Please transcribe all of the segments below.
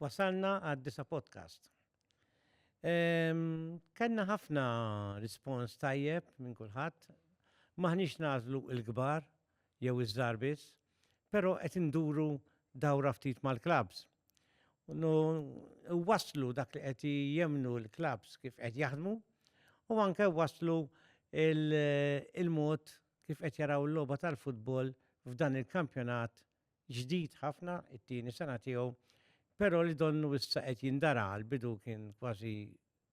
Wasalna għad-disa podcast. Kenna ħafna rispons tajjeb minn kulħadd. Maħniex nażlu il-kbar jew iż-żar biss, però qed induru dawra ftit mal-klabs. Waslu dak li qed jemnu l-klabs kif qed jaħdmu u anke waslu il-mod kif qed jaraw l-logħba tal-futbol f'dan il-kampjonat ġdid ħafna, it-tieni sena tiegħu, però li donnu issa qed jindara għal bidu kien kważi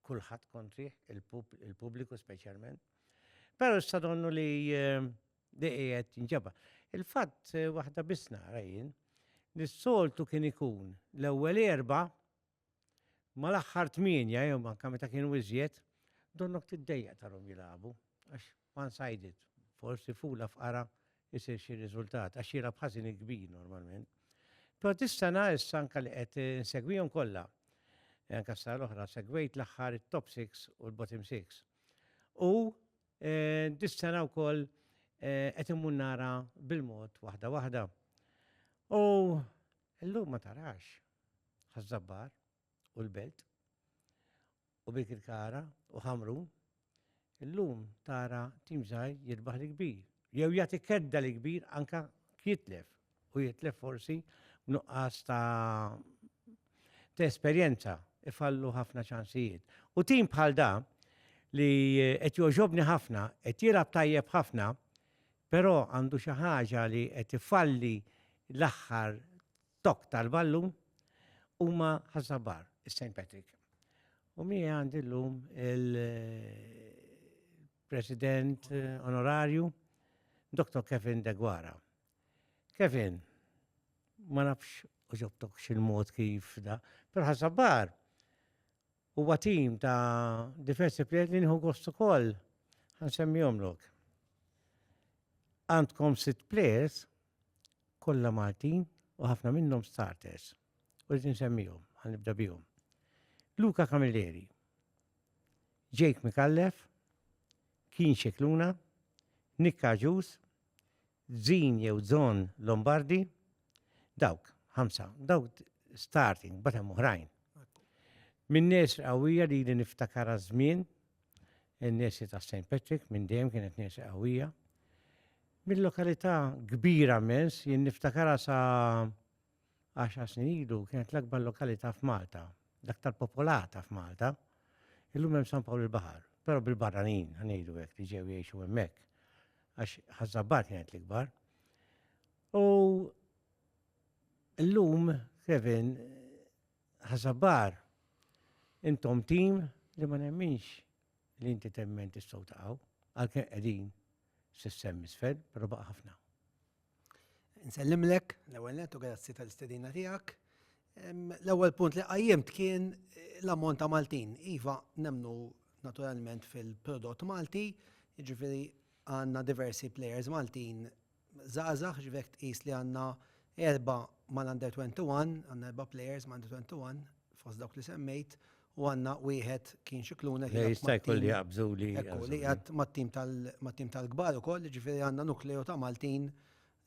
kulħadd kontrih, il-pubbliku speċjalment. Però issa donnu li ehm, li qiegħed jinġaba. Il-fatt eh, waħda biss nara jien, li s-soltu kien ikun l-ewwel erba' Mal-aħħar tmienja jew anke meta kienu iżjed, donnok tiddejjaq tarhom jilagħbu għax one sided, forsi fula f'qara isir xi riżultat għax jilgħab ħażin il-kbir normalment. Però dis-sena issa anke li qed insegwihom kollha. E anke s-sena l-oħra segwejt l-aħħar it-top 6 u l-bottom 6. U e, dis-sena wkoll e, qed immur nara bil-mod waħda waħda. U llum ma tarax, Ħaż-Żabbar u l-Belt u Birkirkara u Ħamrun, illum tara tim żgħir jirbaħ l-kbir. Jew jagħti kedda l-kbir anka jitlef u jitlef forsi b'nuqqas ta' ta' esperjenza ifallu ħafna ċansijiet. U tim bħal da li qed joġobni ħafna, qed jilgħab tajjeb ħafna, però għandu xi ħaġa li qed ifalli l-aħħar Dawk tal-Ballu huma ħażabar is-St. Patrick. U mi għandi l-lum il-President eh, Onorarju, Dr. Kevin Degwara. Kevin, ma nafx uġobtok xil-mod kif da, per ħasabar, Huwa tim ta' diversi plejers li nieħu gost ukoll ħansemmihomlok. Għandkom sitt plejers kollha Maltin u ħafna minnhom starters. U rrid insemmihom, ħanibda bihom. Luka Camilleri, Jake Mikallef, Keen Xikluna, Nick Aġus, Żin jew Zon Lombardi, dawk, ħamsa, dawk starting, mbagħad hemm oħrajn. Minn nesri qawwija li li niftakar żmien in-nesri ta' St. Patrick minn dejjem kienet nesri qawwija. Mill-lokalità kbira mens, jien niftakarha sa' Għaxar snin ilu kienet l-akbar lokalità f'Malta, l-aktar popolata f'Malta. Illum hemm San Pawl il-Baħar, però bil-barranin, ngħidu hekk, li ġew jgħixu hemmhekk, għax ħażabbar kienet l-ikbar. U llum, Kevin, ħażabbar, intom tim li ma nemminx li inti temmen tistgħu taqgħu, għalkemm qegħdin s-sem isfel, però baqa' ħafna. Nsellimlek l-ewwel nett u grazzi tal-istedina tiegħek. L-ewwel punt li qajjimt kien l-ammont ta' Maltin. Iva, nemnu naturalment fil-prodott Malti, jiġifieri għandna diversi players Maltin żgħażagħ, jiġifieri jekk tqis li għandna erba' mal-Under 21, għandna erba' players mal-Under 21 fost dawk li semmejt, u għandna wieħed kien xi kluna li jista' jkun li jaqbżu li ekku li qiegħed mat-tim tal mat-tim tal-kbar ukoll, jiġifieri għandna nukleo ta' Maltin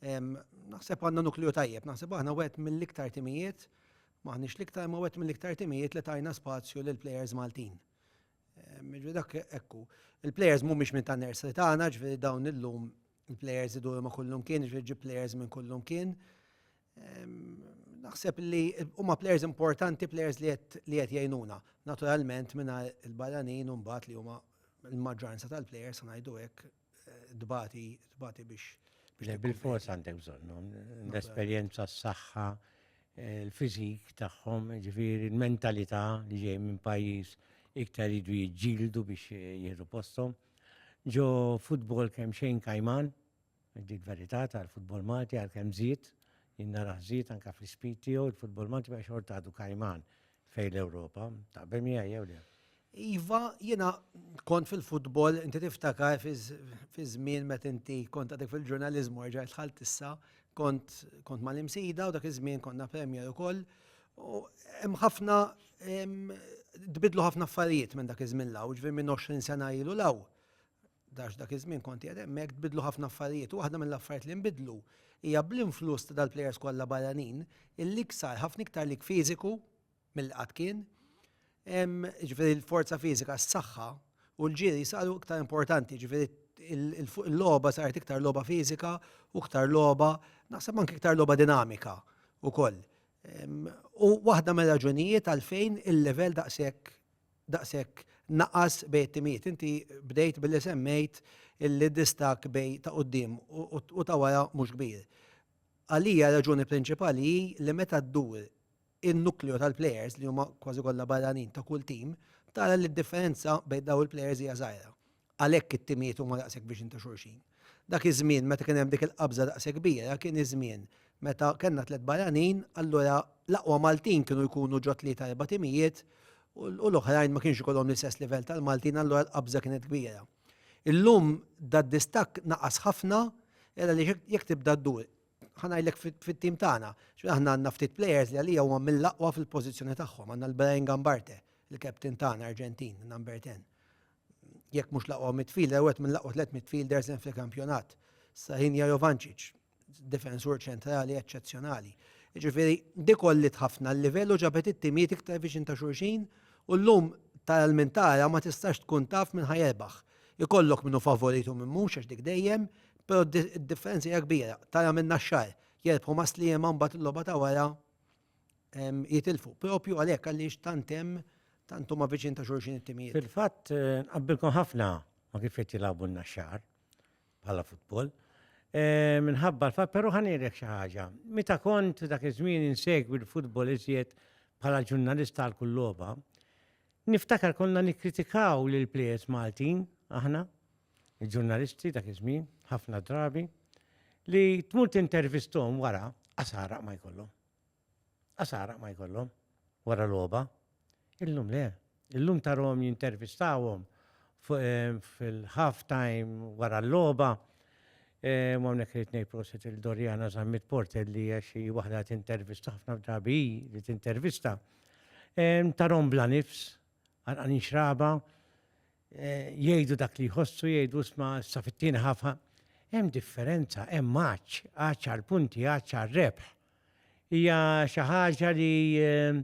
naħseb għandna nukleo tajjeb, naħseb aħna wieħed mill-iktar timijiet m'aħniex l-iktar imma wieħed mill-iktar timijiet li tajna spazju lill-plejers Maltin. Jiġifieri dak ekku. Il-plejers mhumiex minn tan-nursery tagħna, jiġifieri dawn illum il-plejers iduru ma' kullimkien, ġifieri ġib plejers minn kullimkien. Naħseb li huma plejers importanti, plejers li qed jgħinuna. Naturalment minna il-barranin u mbagħad li huma l-maġġoranza tal-plejers ngħidu hekk dbati dbati biex. Bil-fors għandek bżonnhom, l-esperjenza, s-saħħa, l-fiżik tagħhom, ġifieri l-mentalità li ġej minn pajjiż iktar jidu jiġġieldu biex jieħdu posthom. Ġo futbol kemm xejn kajman, dik verità tal-futbol Malti għal kemm żied, jien narah żied anke fl-ispid tiegħu, il-futbol Malti baqgħex xorta għadu kajman fejn l-Ewropa. Taqbel miegħi jew le? Iva, jiena kont fil-futbol, inti tiftakar fi żmien meta inti kont għadek fil-ġurnaliżmu erġa' dħalt issa, kont mal-imsida u dak iż-żmien konna Premier ukoll U hemm ħafna tbidlu ħafna affarijiet minn dak iż-żmien law, ġifier minn 20 sena ilu law. Dax dak iż-żmien kont qiegħed hemmhekk tbidlu ħafna affarijiet u waħda mill-affarijiet li nbidlu hija bl-influss ta' dal-plejers kollha barranin il-lig sar ħafna iktar lig fiżiku milli qatt kien. Ġifieri l-forza fiżika, s-saħħa u l-ġiri saru iktar importanti, ġifieri l-logħba saret iktar logħba fiżika u iktar logħba, naħseb anke iktar logħba dinamika wkoll. U waħda mir-raġunijiet għalfejn il-livell daqshekk daqshekk naqas bejn it-timijiet. Inti bdejt billi semmejt li distak bej ta' qudiem u ta' wara mhux kbir. Għalija raġuni prinċipali hi li meta ddur in-nukleo tal-plejers li huma kważi kollha barranin ta' kull tim, tara li d-differenza bejn dawn il-plejers hija żgħira. Għalhekk it-timijiet huma daqshekk viċin ta' xulxin. Dak iż-żmien meta kien hemm dik il-qabża daqshekk kbira kien iż-żmien meta kellna tliet barranin, allura l-aqwa Maltin kienu jkunu ġo tlieta erba' timijiet u l-oħrajn ma kienx ikollhom l-istess livell tal-Maltin allura l-qabża kienet kbira. Illum dad-distakk naqas ħafna għal għaliex jekk tibda ddur, ħa ngħidlek fit-tim tagħna, x'fih aħna għandna ftit plejers li għalija huma mill-aqwa fil-pożizzjoni tagħhom, għandna l-Brian Gambarte, il-captain tagħna Arġentin, number ten. jekk mhux l-aqwa midfielder, wieħed mill-aqwa tliet midfielders hemm fil-kampjonat. Sahin Jovanċiċ, difensur ċentrali eċċezzjonali. Ġifieri, dikollit ħafna l-livellu ġabet it-timijiet iktar viċin ta' xulxin u llum tal-mintara ma tistax tkun taf minn ħajerbaħ. Ikollok minnu favoritu minn mhux għax dik dejjem, però d-differenza hija kbira. Tara minn naxxar, jerbħu ma' sliema mbagħad il-logħba ta' wara jitilfu. Propju għalhekk għaliex tant hemm tant huma viċin ta' xulxin it-timijiet. Fil-fatt eh, nqabbilkom ħafna ma kif qed jilagħbu n-naxxar bħala futbol. Eh, minħabba l-fatt, però ħanirek xi ħaġa. Meta kont dak iż-żmien insegwi l-futbol iżjed bħala ġurnalista għal kull logħba, niftakar konna nikkritikaw lil players Maltin aħna Il-ġurnalisti dak iż-żmien, ħafna drabi, li tmur tintervisthom wara, qasaraq ma jkollhom. Qasaraq ma jkollhom wara logħba. Illum le. Illum tarhom jintervistawhom eh, fil-half time wara l-logħba. Eh, ma hawnhekk irid ngħid prosit il-Dorjana Zammit Porter li hija xi waħda tintervista ħafna drabi li tintervista. Eh, tarhom bla nifs, għalqan xraba, jgħidu dak li jħossu jgħidu sma sa fit-tieni ħafna. Hemm differenza, hemm għaċ, għaċ għal punti, għaċ għal rebħ. Hija xi ħaġa li eh,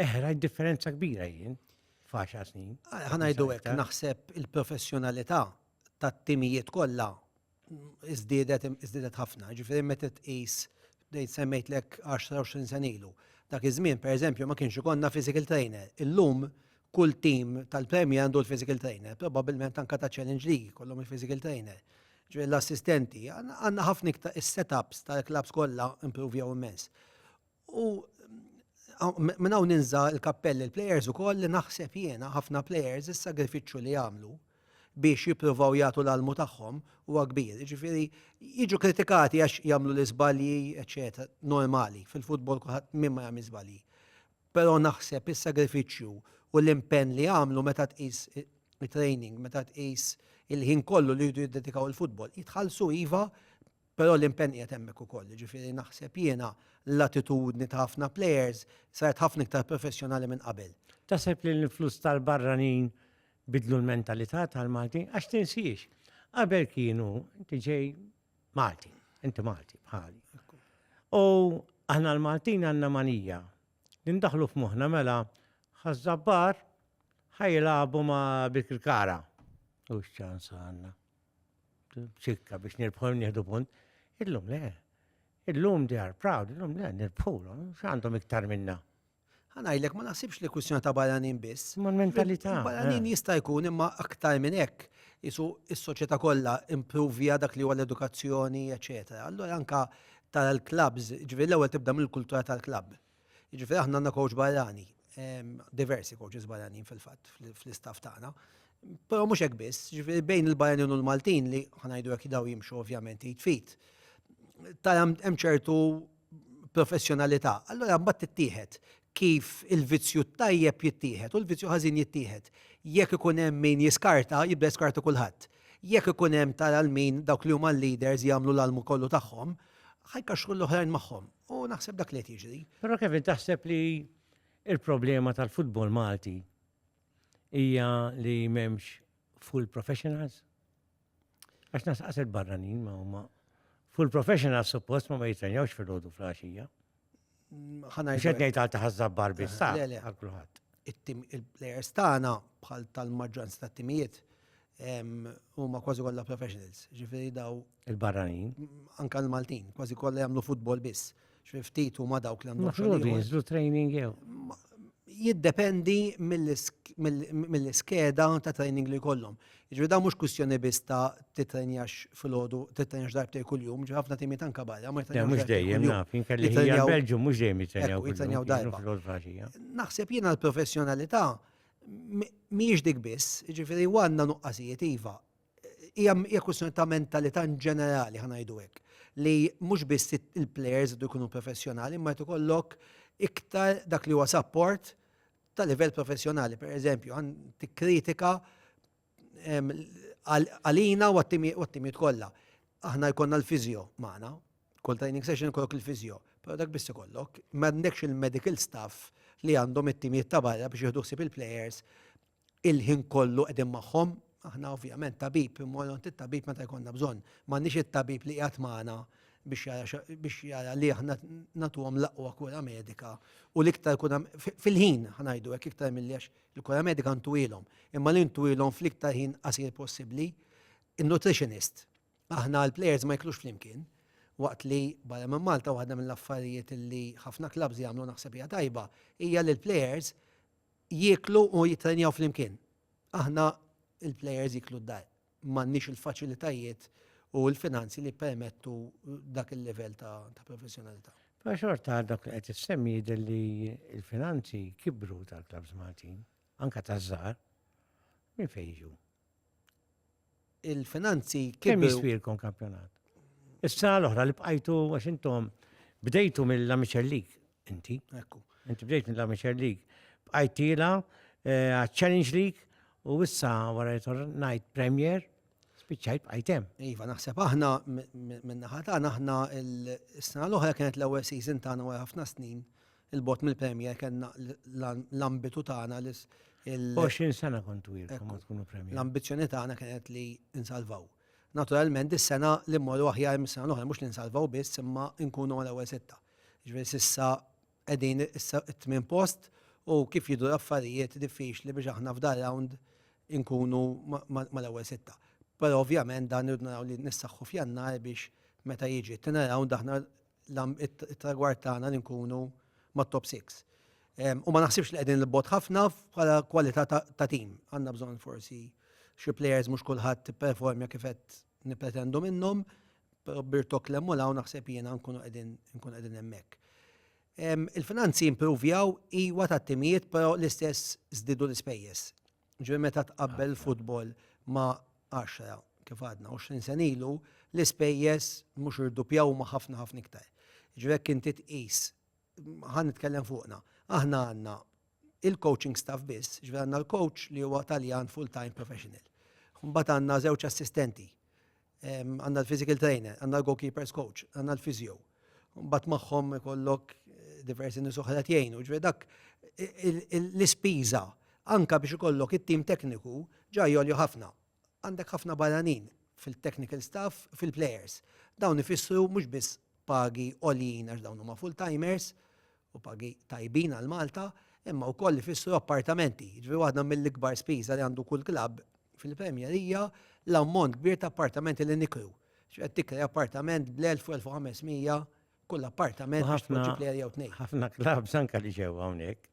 eħra differenza kbira jien faxa snin. Ħanajdu hekk naħseb il-professjonalità tat-timijiet kollha iżdiedet iżdiedet ħafna. Ġifieri meta tqis bdejt semmejtlek 10-20 sen ilu. Dak iż-żmien pereżempju ma kienx ikollna physical trainer. Illum kull tim tal-Premier għandu l-physical trainer, probabbilment anke ta' Challenge League jkollhom il-physical trainer. Ġifieri l-assistenti, għandna ħafna iktar is-setups tal-klabbs kollha improvjaw immens. U minn hawn ninża l-kappell il-plejers ukoll li naħseb jiena ħafna plejers is-sagrifiċċju li jagħmlu biex jippruvaw jagħtu l-almu tagħhom huwa kbir. Ġifieri jiġu kritikati għax jagħmlu l-iżbalji, eċetera, normali fil-futbol kulħadd min ma jagħmel żbalji. Però naħseb is-sagrifiċċju u l-impenn li jagħmlu meta tqis training, meta tqis il-ħin kollu li jridu jiddedikaw il-futbol, jitħallsu iva Però l-impenn qiegħed hemmhekk ukoll, jiġifieri naħseb jiena l-attitudni ta' ħafna plejers saret ħafna iktar professjonali minn qabel. Taħseb li l-influss tal-barranin biddlu l-mentalità tal-Maltin? Għax tinsiex, qabel kienu inti ġej Malti, inti Malti bħali. U aħna l-Maltin għandna manija li ndaħlu f'moħħna mela ħaż-żabbar ħajlabu ma' bil-kara. U x'ċans għandna? ċikka biex nirbħu nieħdu punt. Illum le. Illum they are proud, illum le nirbħulhom, x'għandhom iktar minna. Ħanajlek ma naħsibx li kwistjoni ta' barranin biss. Ma mentalità. Barranin eh. jista' jkun imma aktar minn hekk isu is-soċjetà kollha improvja dak li huwa l-edukazzjoni, eċetera. Allura anka tal-klabs, ġifieri l-ewwel tibda mill-kultura tal-klabb. Jiġifieri aħna għandna coach barrani, diversi coaches barranin fil-fatt fl-istaff tagħna. Però mhux hekk biss, jiġifieri bejn il-barranin u l-Maltin li ħanajdu hekk daw jimxu ovvjament id fit. Tara hemm ċertu professjonalità. Allura mbagħad tittieħed kif il-vizzju tajjeb jittieħed u l-vizzju ħażin jittieħed. Jekk ikun hemm min jiskarta, jibda jiskarta kulħadd. Jekk ikun hemm tara l-min dawk li huma l-leaders jagħmlu l-almu kollu tagħhom, ħajkaxxru l-oħrajn magħhom. U naħseb dak li qed jiġri. Però Kevin taħseb li il-problema tal-futbol Malti hija li m'hemmx full professionals? Għax nasqaset barranin ma huma full professionals suppost ma ma jitrenjawx fil-ħodu fl-għaxija. Ħana Xed ngħid għal taħazzab barbi sa għal kulħadd. Il-plejers tagħna bħal tal-maġġoranza tat-timijiet huma kważi kollha professionals, ġifieri daw. Il-barranin. Anka l-Maltin, kważi kollha jagħmlu futbol biss. Ġifieri ftit huma dawk li għandhom xogħol. Jinżlu training jew. Jiddependi mill-iskeda ta' training li kollhom. Ġifieri daw mhux kwistjoni biss ta' titrenjax fil-ħodu, titrenjax darbtej kuljum, ġifieri ħafna timiet anka barra. Mhux dejjem naf, inkelli ħajja Belġu mhux dejjem jitrenjaw. Jitrenjaw darba. Naħseb jiena l-professjonalità mhijiex dik biss, jiġifieri u għandna nuqqasijiet iva. Hija hija kwistjoni ta' mentalità in ġenerali ħa ngħidu hekk li mhux biss il-plejers idu jkunu professjonali, imma qed ikollok iktar dak li huwa support ta' livell professjonali. Per eżempju, għan tikkritika għalina u għat-timijiet kollha. Aħna jkollna l-fiżjo magħna, kull training session ikollok il-fiżjo, però dak biss ikollok, m'għandekx il-medical staff li għandhom it-timijiet ta' barra biex jieħdu ħsieb il-plejers il-ħin kollu qegħdin magħhom. Aħna ovvjament tabib, immorru għand it-tabib meta jkollna bżonn. M'għandniex it-tabib li qiegħed magħna biex jara li aħna nagħtuhom l-aqwa kura medika u l-iktar kura fil-ħin, ħa ngħidu hekk, iktar milli għax Il-kura medika ntwilhom, imma li ntwilhom fl-iktar ħin qasir possibbli. In-nutritionist. Aħna l-plejers ma jiklux flimkien, waqt li barra minn Malta waħda mill-affarijiet li ħafna klabbs jagħmlu naħseb hija tajba hija li l-plejers jieklu u jittrenjaw flimkien. Aħna l-plejers jieklu d-dar. m'għandniex il-faċilitajiet u l-finanzi li jippermettu dak il-livell ta' professjonalità. Però xorta dak li qed issemmi jidher li l-finanzi kibru tal-Clubs Maltin, anka taż-żgħar, minn fejn jiġu? Il-finanzi kibru. Kemm jiswilkom kampjonat? Is-sena l-oħra li bqajtu għax intom bdejtu mill-Amiċellik Inti. Ekku. Inti bdejt minn Lamiċer League. Bqajtila, eh, Challenge League, u issa wara jitor Night Premier, spiċċajt bqajtem. Iva, naħseb aħna minn naħata aħna s-sena l-oħra kienet l-ewwel season tagħna wara ħafna snin il-bot mill-Premier kellna l-ambitu tagħna l 20 sena kontu jirkom tkunu Premier. L-ambizzjoni tagħna kienet li insalvaw. Naturalment, is-sena li mmorru aħjar mis-sena l-oħra mhux li nsalvaw biss imma nkunu għal ewwel sitta. Jiġifieri s'issa qegħdin issa t-tmien post u kif jidhru l-affarijiet diffiċli biex aħna f'dan round inkunu mal-ewwel sitta. Però ovvjament dan irridu naraw li nissaħħu f'Jannar biex meta jiġi t-tieni round aħna it-tragward tagħna li nkunu mat-top six. U ma naħsibx li qegħdin 'l bogħod ħafna bħala kwalità ta' tim. Għandna bżonn forsi xi plejers mhux kulħadd ipperformja kif qed nippretendu minnhom, Però b'Birtok Klemmul hawn naħseb jiena nkunu qegħdin nkunu qegħdin hemmhekk. Il-finanzi impruvjaw iwa tat-timijiet però l-istess żdiedu l-ispejjeż. Ġifieri meta tqabbel il-futbol ma' għaxra kif għadna 20 sena ilu, l-ispejjeż mhux irdupjaw huma ħafna ħafna iktar. Ġifieri jekk inti tqis, ħa nitkellem fuqna, aħna għandna il-coaching staff biss, ġifieri għandna l-coach li huwa Taljan full-time professional. Mbagħad għandna żewġ assistenti għandna l-physical trainer, għandna l-goalkeepers coach, għandna l-physio. Mbagħad magħhom ikollok eh, diversi nies oħra jgħinu, ġifieri dak l-ispiża anka biex ikollok it-tim tekniku ġa jolju ħafna. Għandek ħafna barranin fil-technical staff, fil-players. Dawn ifissru mhux biss pagi għoljin għax dawn huma full-timers, u pagi tajbin għal Malta, imma wkoll ifissru appartamenti. Jiġifieri waħda mill-ikbar spiża li għandu kull klabb fil-Premier hija l-ammont kbir ta' appartamenti li nikru. X'qed tikri appartament bl-1000 u 1500 kull appartament biex tpoġġi plejer jew tnejn. Ħafna klabbs anke li ġew hawnhekk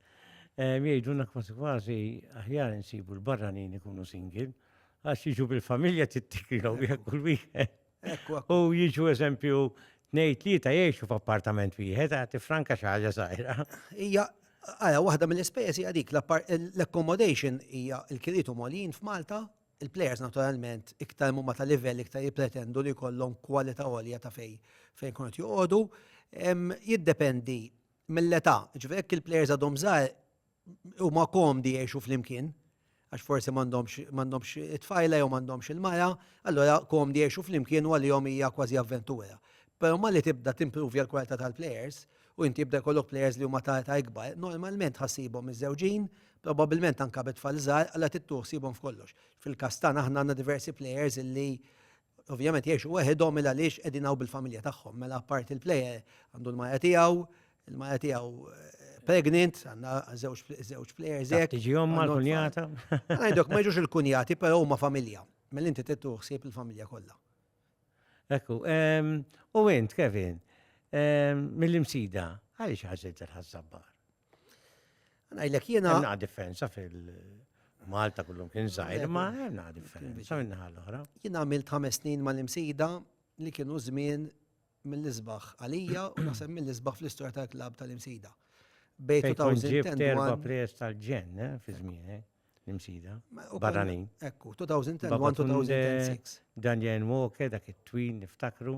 jgħidulna kważi kważi aħjar insibu l-barranin ikunu single għax jiġu bil-familja trid tikrilhom wieħed kull weekend. U jiġu eżempju, nej tlieta jiexu f'appartament wieħed, għati franka xaħġa zaħira. Ija, għala, wahda mill-ispejjeż hija dik, l-accommodation hija l-kiritu molin f'Malta, il-players naturalment iktar mumma ta' livell iktar jipretendu li kollom kwalita għolja ta' fej fejn kunet joqodu, jiddependi mill-età, ġvek il-players għadhom zaħir, huma komdi jgħixu flimkien, għax forsi m'għandhomx it-tfajla jew m'għandhomx il-mara, allora komdi jgħixu flimkien u għalihom hija kważi avventura. Però malli tibda timprovja l-kwalità tal-plejers u inti jibda jkollok plejers li huma ta' ta' ikbar, normalment ħassibhom miżżewġin, probabbilment anke bi tfal żgħar, allora tittuħsibhom f'kollox. Fil-każ tagħna aħna għandna diversi plejers illi Ovvjament jgħixu weħidhom il għaliex qegħdin hawn bil-familja tagħhom. Mela apparti l-plejer għandu l-maja tiegħu, il-maja tiegħu eh, pregnant, għandna żewġ plejers hekk. Tiġi omma l-kunjata. Għajdok ma jiġux il-kunjati, però huma familja. Mela inti tittu ħsieb il-familja kollha. Ekku, ehm, u int Kevin, ehm, mill-imsida, għaliex ħażilt il-ħazzabbar? Għajlek jena. Għanna differenza fil-Malta kullum kien zaħir, ma għanna differenza minna għal-ħra. Jena għamilt ħames snin mal-imsida li kienu żmien mill-isbaħ għalija u naħseb mill-isbaħ fl-istorja tal-klab tal-imsida. Bej 2010 erba pres tal-ġen, eh, fi żmien, eh, l-imsida. Barranin. Ekku, 2001-2006. Daniel Walker, dak it-twin niftakru,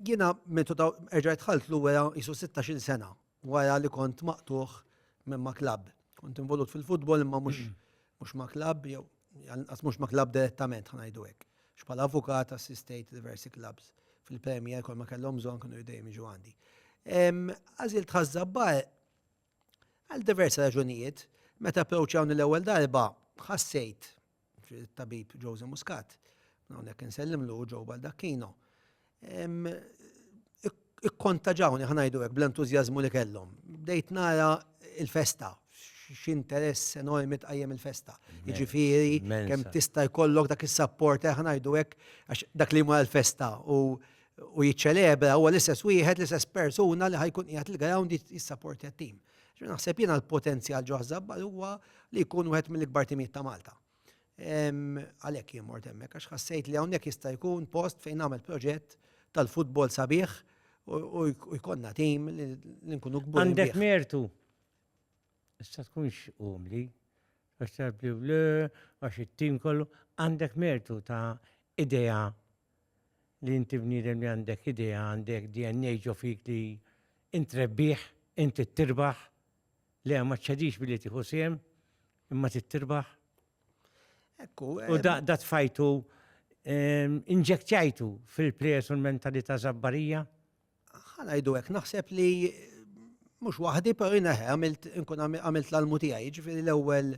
Jiena meta ta' erġa' dħalt l-uwea jisu 16-il sena wara li kont maqtuħ minn ma' klabb. Kont involut fil-futbol imma mhux mhux ma' klabb jew għas mhux ma' klabb direttament ħanajdu hekk. X'bħala avukat assistejt diversi klabbs fil-Premier kol ma kellhom bżonn kienu dejjem jiġu għandi. Għażilt ħaż-żabbar Għal diversi raġunijiet, meta approċċjawni l-ewwel darba, ħassejt tabib Jose Muscat, hawnhekk insellimlu ġew Baldacchino. Ikkontaġawni ħanajdu hekk bl-entużjażmu li kellhom. Bdejt nara il-festa, x'interess enormi tqajjem il-festa. Jiġifieri kemm tista' jkollok dak is-sapport eh, ħanajdu hekk għax dak li ma l-festa u u jiċċelebra huwa l-istess wieħed, l-istess persuna li ħajkun qiegħed il-ground jissaportja t-tim. Ġifieri naħseb jiena l-potenzjal ġo Ħżabbar huwa li jkun wieħed mill-ikbar timijiet ta' Malta. Għalhekk jien mort hemmhekk għax ħassejt li hawnhekk jista' jkun post fejn nagħmel proġett tal-futbol sabiħ u jkollna tim li nkunu kbur. Għandek mertu. Issa tkunx umli, għax tabli għax it-tim kollu, għandek mertu ta' idea li inti bniedem li għandek idea, għandek DNA ġo fik li int trebbih, int trid tirbaħ, le ma ċċedix billi tieħu sehem, imma trid tirbaħ. Ekku. U da eh, tfajtu ehm, inġektjajtu fil-plejers u l-mentalità żabbarija Ħa ngħidu hekk, naħseb li mhux waħdi, però jien għamilt inkun għamilt l-almu tiegħi, jiġifieri l-ewwel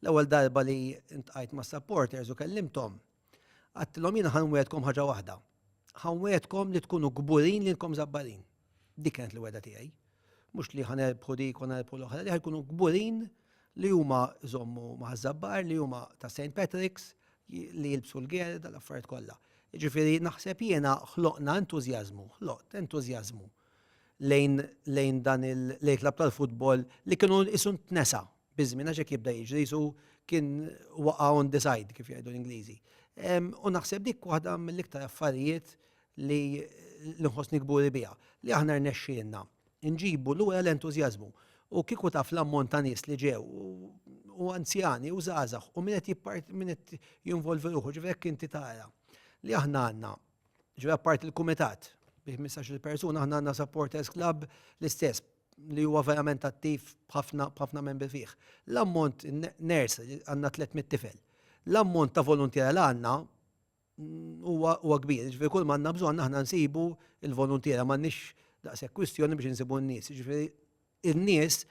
l-ewwel darba li ntqajt ma' supporters u kellimthom, għattilhom jien ħan wegħedkom ħaġa waħda. Ħan wegħedkom li tkunu kburin li nkom żabbarin. Dik kienet l-wegħda tiegħi. Mhux li ħa nerbħu dik u nerbħu l-oħra, li ħa jkunu kburin li huma żommu ma' żabbar, li huma ta' St. Patrick's, li jilbsu l-ger, dal-affarijiet kollha. Ġifieri naħseb jiena ħloqna entużjażmu, ħloqt entużjażmu lejn lejn dan il-klab tal-futbol li kienu isu tnesa biż-żmien għax hekk jibda jiġri jisu kien waqa' on the side kif jgħidu l-Ingliżi. U naħseb dik waħda mill-iktar affarijiet li nħossni kburi biha, li aħna rnexxielna nġibu lura l-entużjażmu. U kieku taf l-ammont ta' nies li ġew, u anzjani, u żgħażagħ, u min qed min qed jinvolvi ruħu, ġifieri jekk inti tara li aħna għandna, ġifieri apparti l-kumitat bi ħmistax-il persuna, aħna għandna supporters club l-istess li huwa verament attiv b'ħafna membri fih. L-ammont nurse għandna 300 tifel. L-ammont ta' voluntiera li għandna huwa kbir, ġifieri kull ma għandna bżonn aħna nsibu l-voluntiera m'għandniex daqshekk kwistjoni biex insibu n-nies. Ġifieri in-nies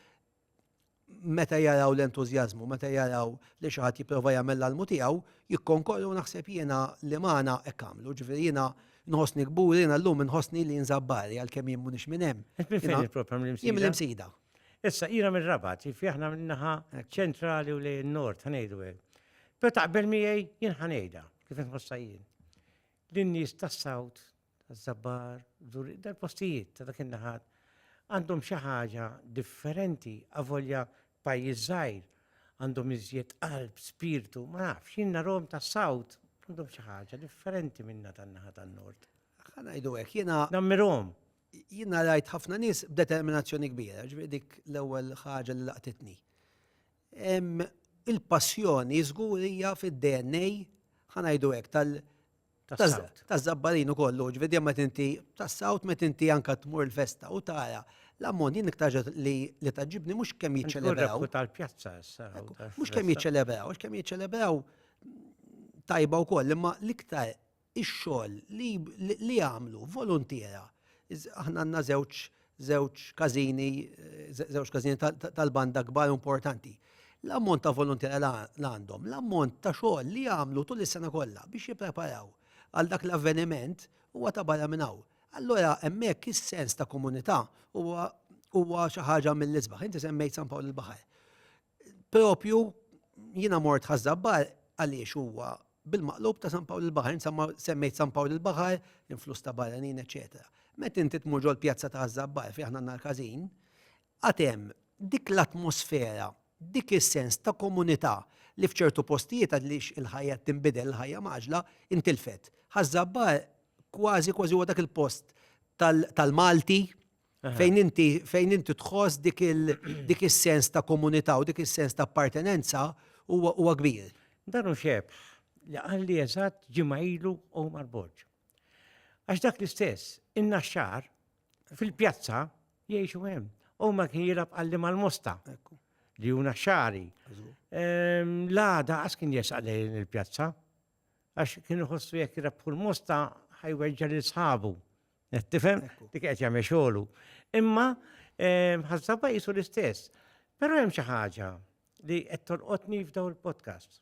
meta jaraw l-entużjażmu, meta jaraw li xi ħadd jipprova jagħmel l-almu tiegħu, jikkonkorru naħseb jiena li magħna hekk għamlu, ġifieri jiena nħossni kbur, jiena llum inħossni li nżabbar għalkemm jien mhux minn hemm. Jien l-imsida. Issa jiena mir-rabat, jifi aħna minnaħa ċentrali u lejn nord, ħanejdu hekk. Pero taqbel miegħi jien ħanejda, kif inħossha jien. Lin-nies tas-sawt, taż-żabbar, dal-postijiet ta' dak in-naħat għandhom xi ħaġa differenti avolja pajjiż żgħir għandhom iżjed qalb, spirtu, ma nafx, jien narhom tas-sawt għandhom xi ħaġa differenti minna tan-naħa tan-nord. Ħanajdu hekk jiena. Nammirhom. Jiena rajt ħafna nies b'determinazzjoni kbira, ġifieri dik l-ewwel ħaġa li laqtitni Il-passjoni żgur hija fid-DNA ħanajdu hekk tal- Taż-żabbarin u kollu, ġvedi ma tinti tas-sawt ma tinti anka tmur l-festa u tara l-ammont jien iktar li li taġibni mhux kemm jiċċelebraw. tal-pjazza issa. Mhux kemm jiċċelebraw, mhux kemm jiċċelebraw tajba wkoll, imma l-iktar ix-xogħol li jagħmlu voluntiera. Aħna għandna żewġ żewġ każini, żewġ każini tal-banda kbar importanti. L-ammont ta' volontiera li għandhom, l-ammont ta' xogħol li jagħmlu tul is-sena kollha biex jippreparaw għal dak l-avveniment huwa ta' barra minn hawn. Allura hemmhekk is-sens ta' komunità huwa xi ħaġa mill-isbaħ. Inti semmejt San Pawl il-Baħar. Propju jiena mort ħażabbar għaliex huwa bil-maqlub ta' San Pawl il-Baħar, insamma semmejt San Pawl il-Baħar, l-influss ta' barranin, eċetera. Met inti tmur ġol pjazza ta' Ħażabbar fi aħna nar każin, għatem dik l-atmosfera, dik is-sens ta' komunità li f'ċertu postijiet għaliex il-ħajja tinbidel, il-ħajja maġla, intilfet. Ħażabbar kważi kważi huwa dak il-post tal-Malti, Fejn inti fejn inti tħoss dik il dik is-sens ta' komunità u dik is-sens ta' appartenenza huwa huwa kbir. Dan hu xebħ li qalli eżatt ġimgħa ilu Omar Borg. Għax dak l-istess, in-naxxar fil-pjazza jgħixu hemm. Omar kien jilab qalli mal-mosta li hu naxxari. L-għada għas kien jesaq lejn il-pjazza għax kien iħossu jekk rebħu l-mosta ħajweġġa lil sħabu Qed tifhem? Dik qed jagħmel xogħlu. Imma ħażna pajjiżu l-istess. Però hemm xi ħaġa li qed tolqotni f'daw il-podcast.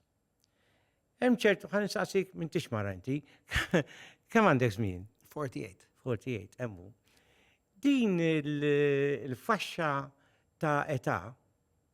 Hemm ċertu ħan nistaqsik minn tix mara inti. Kemm għandek żmien? 48. 48, hemmu. Din il-faxxa ta' età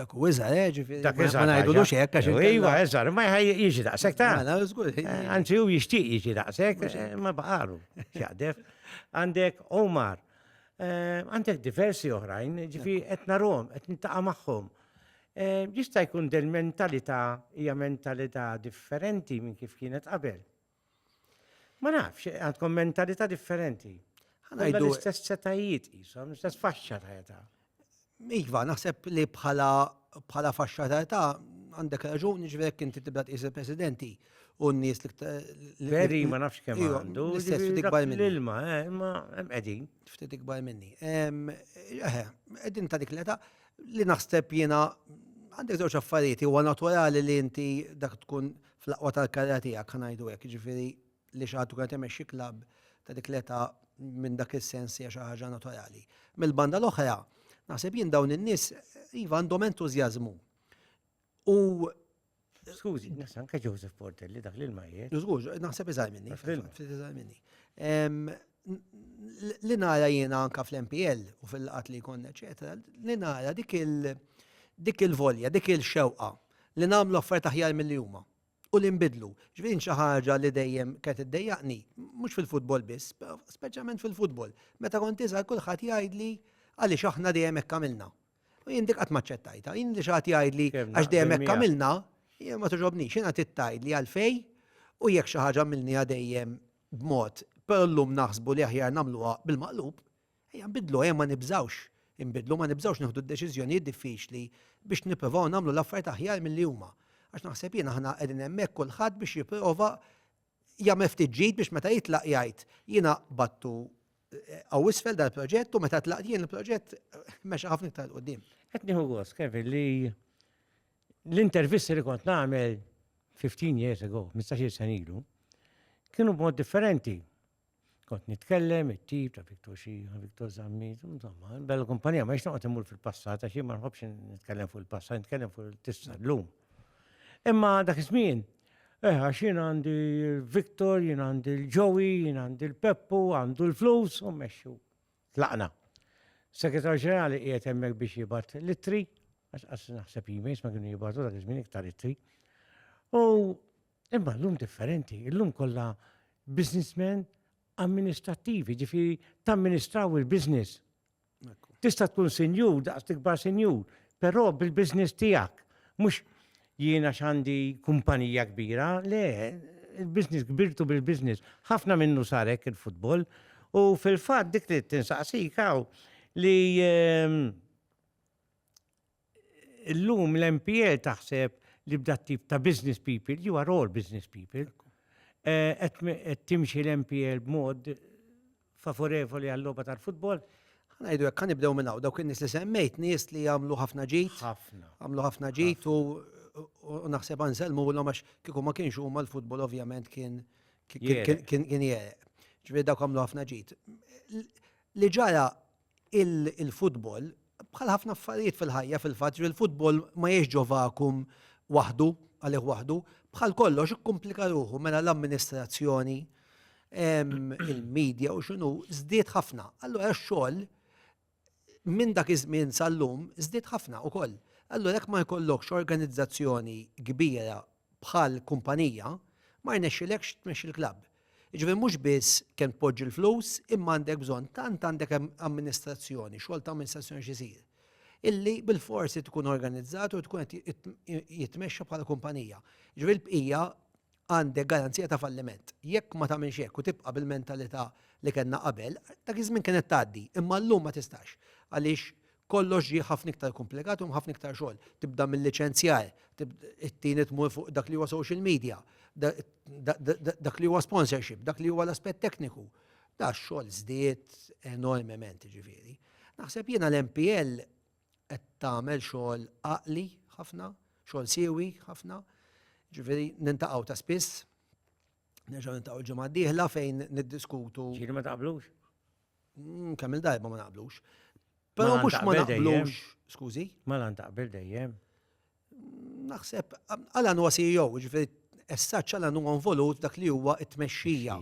Dak u iżar, eh, ġifiri. Dak iżar. Ma ngħidulux hekk għax. Iva, iżar, ma jiġi daqshekk ta'. Mela, eh, anzi, hu jixtieq jiġi daqshekk, eh, ma baqalu. Xaqdef. Għandek Omar, eh, għandek diversi oħrajn, ġifi qed narhom, qed nintaqa' magħhom. Jista' jkun del mentalità hija mentalità differenti minn kif kienet qabel. Ma nafx, għandkom mentalità differenti. Għandkom l-istess setajiet jisom, l-istess faxxa ta' età. Iva, naħseb li bħala bħala faxxa ta' età għandek raġun ġverek inti tibda tqis il-presidenti u n-nies li Veri, ma nafx kemm iva, għandu. L-istess ftit ikbar minni. L-ilma, eh, ma qegħdin. Ftit ikbar minni. Eh, qegħdin ta' dik l-età li naħseb jiena għandek żewġ affarijiet huwa naturali li inti dak tkun fl-aqwa tal-karriera tiegħek, ħa ngħidu hekk, jiġifieri li xi ħadd ikun qed imexxi klabb ta' dik l-età minn dak is-sens hija xi ħaġa naturali. Mill-banda l-oħra, naħseb jien dawn in-nies iva għandhom entużjażmu. U Skużi, nista' anke Joseph Portelli dak li l-majiet. Żgur, naħseb iżgħar minni. Ftit iżgħar minni. li nara jiena anka fl-MPL u fil-laqat li jkun, eċetera, li nara dik il-volja, dik il-xewqa li nagħmlu offerta ħjar mill-li huma u li nbidlu. Ġvin xi ħaġa li dejjem kienet iddejjaqni, mhux fil-futbol biss, speċjalment fil-futbol. Meta kont iżgħar kulħadd jgħidli għaliex aħna dejjem hekk għamilna. U jien dik qatt maċċettajta, jien li xaħat jgħidli għax dejjem hekk għamilna, jien ma tuġobni, xina tittajt li għalfej u jekk xi ħaġa milni dejjem b'mod, però llum naħsbu li aħjar nagħmluha bil-maqlub, ejja nbiddlu, ejja ma nibżgħux inbiddlu, ma nibżgħux nieħdu d-deċiżjonijiet diffiċli biex nipprovaw nagħmlu l-affarijiet aħjar milli huma. Għax naħseb jien aħna qegħdin hemmhekk kulħadd biex jipprova jagħmel ftit ġid biex meta jitlaq jgħid jiena qbadtu hawn isfel dal-proġett u meta tlaqt jien il-proġett mexa ħafna iktar quddiem. Qed nieħu gost, Kevin, li L-intervisti li kont nagħmel 15 years ago, 15 sen ilu, kienu b'mod differenti. Kont nitkellem, it-tip ta' Victor Xija, Victor Zammi, insomma, bella kumpanija, ma jxtaqt imur fil-passat, għax ma nħobx nitkellem fuq il-passat, nitkellem fuq il-tista l-lum. Imma dak iż-żmien, eh, għax jien għandi Victor, jien għandi l-Joey, jien għandi l-Peppu, għandu l-flus, u meċxu. tlaqna. Segretarju Ġenerali qiegħed hemmhekk biex jibgħat l-ittri, għax qas naħseb emails ma kienu jibgħatu dak iż-żmien iktar ittri. U imma llum differenti, illum kollha businessmen amministrattivi, ġifieri tamministraw il-business. Tista' tkun sinjur, daqs tikbar sinjur, però bil-business tiegħek. Mhux Jien għax għandi kumpanija kbira, le, il-business kbirtu bil-business. Ħafna minnu sar hekk il-futbol u fil-fatt dik li tinsaqsik hawn li ehm, illum l-MPL taħseb li b'dat tip ta' business people, you are all business people, eh, qed timxi l-MPL b'mod favorevoli għal-logħba tal-futbol. Ngħidu hekk nibdew minn hawn dawk in-nies li semmejt, nies li jagħmlu ħafna ġid. Ħafna. Għamlu ħafna ġid u naħseb anselmu l għax kieku ma kienx huma l-futbol ovvjament kien kien jereq. Ġifieri dawk għamlu ħafna ġid. Li ġara Il-futbol, bħal ħafna affarijiet fil-ħajja fil-fatt, ġifieri l-futbol ma jgħixx ġo vakum waħdu, għalih waħdu. Bħal kollox ikkumplika ruħu mela l-amministrazzjoni, il-media u x'inhu żdied ħafna. Allura x-xogħol minn dak iż-żmien sal-lum żdied ħafna wkoll. Allura jekk ma jkollokx organizzazzjoni kbira bħal kumpanija, ma rnexxilekx tmexxi l-klabb. Jiġifieri mhux biss kemm tpoġġi l-flus imma għandek bżonn tant għandek amministrazzjoni, xogħol ta' amministrazzjoni x'isir illi bil-forsi tkun organizzat u tkun qed jitmexxa bħala kumpanija. Ġifieri l-bqija għandek garanzija ta' falliment. Jekk ma tagħmilx hekk u tibqa' bil-mentalità li kellna qabel, dak iż-żmien kienet tgħaddi, imma llum ma tistax. Għaliex Kollox ġie ħafna iktar kumplikat u ħafna iktar xogħol. Tibda mill-liċenzjar, it-tieni tmur fuq dak li huwa social media, dak li huwa sponsorship, dak li huwa l-aspett tekniku. Da xogħol żdied enormement ġifieri. Naħseb jiena l-MPL qed tagħmel xogħol għaqli ħafna, xogħol siewi ħafna, ġifieri nintaqgħu ta' spiss, nerġgħu nintaqgħu l-ġimgħa d-dieħla fejn niddiskutu. Ġieli ma taqblux? Mm, kemm il-darba ma naqblux. Però Malan mhux ma taqbel dejjem. naqblux. Skużi? Malan taqbel dejjem. Naħseb, għalan huwa CEO, ġifiri, essaċ għalan huwa involut f'dak li huwa it-tmexxija,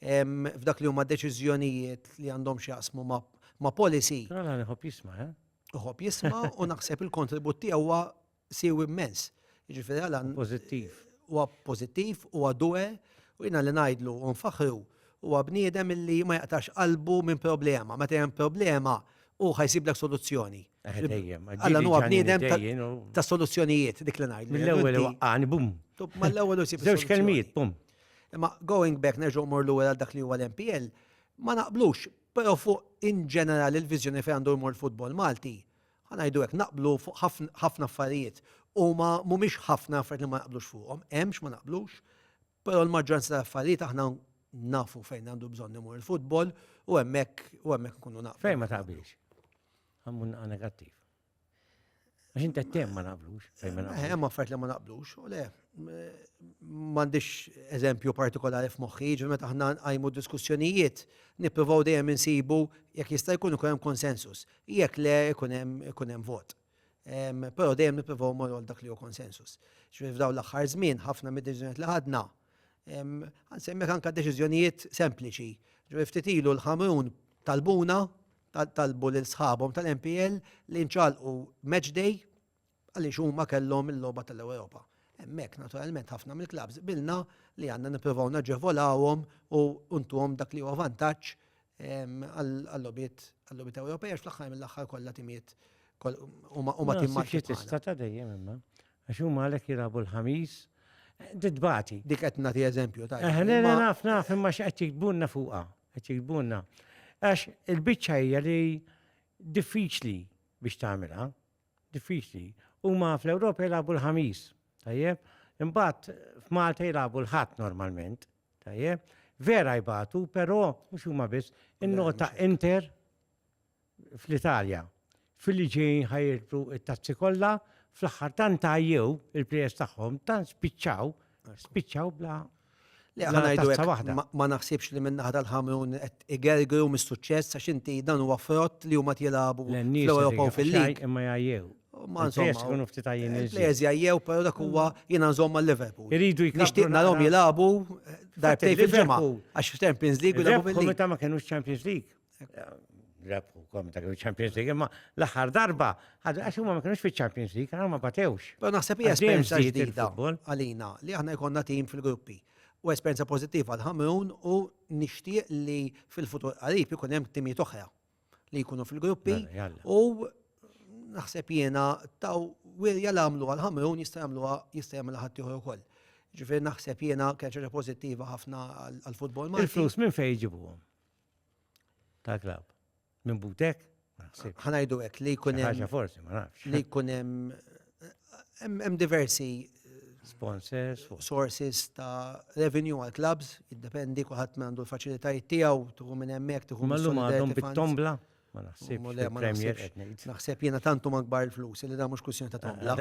em, f'dak li huma deċiżjonijiet li għandhom xjaqsmu ma, ma policy, Però għalan iħobb jisma', eh? uħob jisma u naħseb il-kontribut tiegħu huwa siewi immens. Jiġifieri għala. Pożittiv. Huwa pożittiv, huwa due, u jiena li ngħidlu u nfaħħru huwa bniedem illi ma jaqtax qalbu minn problema. Meta hemm problema hu ħa jsiblek soluzzjoni. Eh, dejjem. Alla huwa bniedem ta' soluzzjonijiet dik li ngħidlu. Mill-ewwel waqqani bum. Mal-ewwel u sib. Żewġ kelmijiet bum. Imma going back nerġgħu mor lura għal dak li huwa l-MPL, ma naqblux, però fuq in ġenerali l-viżjoni fejn għandu jmur futbol Malti, ħa ngħidu hekk, naqblu fuq ħafna affarijiet. Huma mhumiex ħafna affarijiet li ma naqblux fuqhom, hemm x'ma naqblux, però l-maġġoranza tal-affarijiet aħna nafu fejn għandu bżonn imur il-futbol u hemmhekk u hemmhekk nkunu naqblu. Fejn ma taqbilx? Għammun naqa negattiv. Għax inti tem ma naqblux. Hemm affarijiet li ma naqblux, u le, m'għandix eżempju partikolari f'moħħi, ġifieri meta aħna nqajmu diskussjonijiet, nippruvaw dejjem insibu jekk jista' jkun ikun hemm konsensus. Jekk le, ikun hemm ikun hemm vot. Però dejjem nippruvaw immorru għal dak li hu konsensus. Ġifieri f'dawn l-aħħar żmien ħafna mid-deċiżjonijiet li ħadna, ħansemmilek anke deċiżjonijiet sempliċi. Ġifieri ftit ilu l-Ħamrun talbuna, talbu lil sħabhom tal-MPL li nċagħlqu match day għaliex huma kellhom il-logħba tal-Ewropa. Hemmhekk, naturalment, ħafna mill-klabbs qbilna li għandna nippruvaw naġevolawhom u ntuhom dak li huwa vantaġġ għal-logħbiet għal-logħbiet Ewropej għax fl-aħħar mill-aħħar kollha timiet huma tim ma' tista' ta' dejjem imma. Għax huma għalhekk jilagħbu l-ħamis Didbati. Dik qed nagħti eżempju ta' Eħ, le naf naf imma x'qed jiktbunna fuqha, qed jiktbunna. Għax il-biċċa hija li diffiċli biex tagħmilha. diffiċli. Huma fl-Ewropa jilagħbu l-Ħamis, tajjeb? Imbagħad f'Malta jilagħbu l-Ħadd normalment, tajjeb? Vera jbatu, però mhux huma biss, in-nota Inter fl-Italja. Fil-li ġejjin ħajirtu it-tazzi kollha, fl-aħħar tant tajjew il-plejers tagħhom, tant spiċċaw Spiċċaw bla Li ħanajdu waħda. Ma naħsibx li minn naħda l-ħamun qed igergru mis-suċċess għax inti dan huwa frott li huma jilagħbu fl-Ewropa u fil-lig. Imma jgħajjew. Ma nżommu. Plejers jgħajjew, però dak huwa jiena nżomma l-Liverpool. Iridu jkun. Nixtieq narhom jilagħbu darbtej fil-ġimgħa. Għax Champions League u l-Liverpool. Meta ma kienux Champions League. Rebħu kom ta' Champions League, imma l-aħħar darba, għax huma ma kienux fi Champions League, għal ma batewx. Pero naħseb hija esperjenza ġdida għalina li aħna jkollna tim fil-gruppi. U esperjenza pożittiva għal ħamrun u nixtieq li fil-futur qarib ikun hemm timijiet oħra li jkunu fil-gruppi mela, u naħseb jiena taw wirja l għamlu għal ħamrun jista' jagħmluha jista' jagħmel ħadd ieħor ukoll. Ġifier naħseb jiena kien ħaġa pożittiva ħafna għall-futbol. Il-flus minn fejn jġibuhom? Ta' klab. Minn butek? Ħanajdu hekk li jkun hemm. Ħaġa forsi, ma nafx. Li jkun hemm hemm diversi sponsors, sources ta' revenue għal clubs, jiddependi kulħadd minn għandu l-faċilitajiet tiegħu, tuħu minn hemmhekk, tuħu minn Mallum għadhom bit-tombla. Ma naħsibx. Naħseb jiena tantu magbar il-flus li da mhux kwistjoni ta' tombla.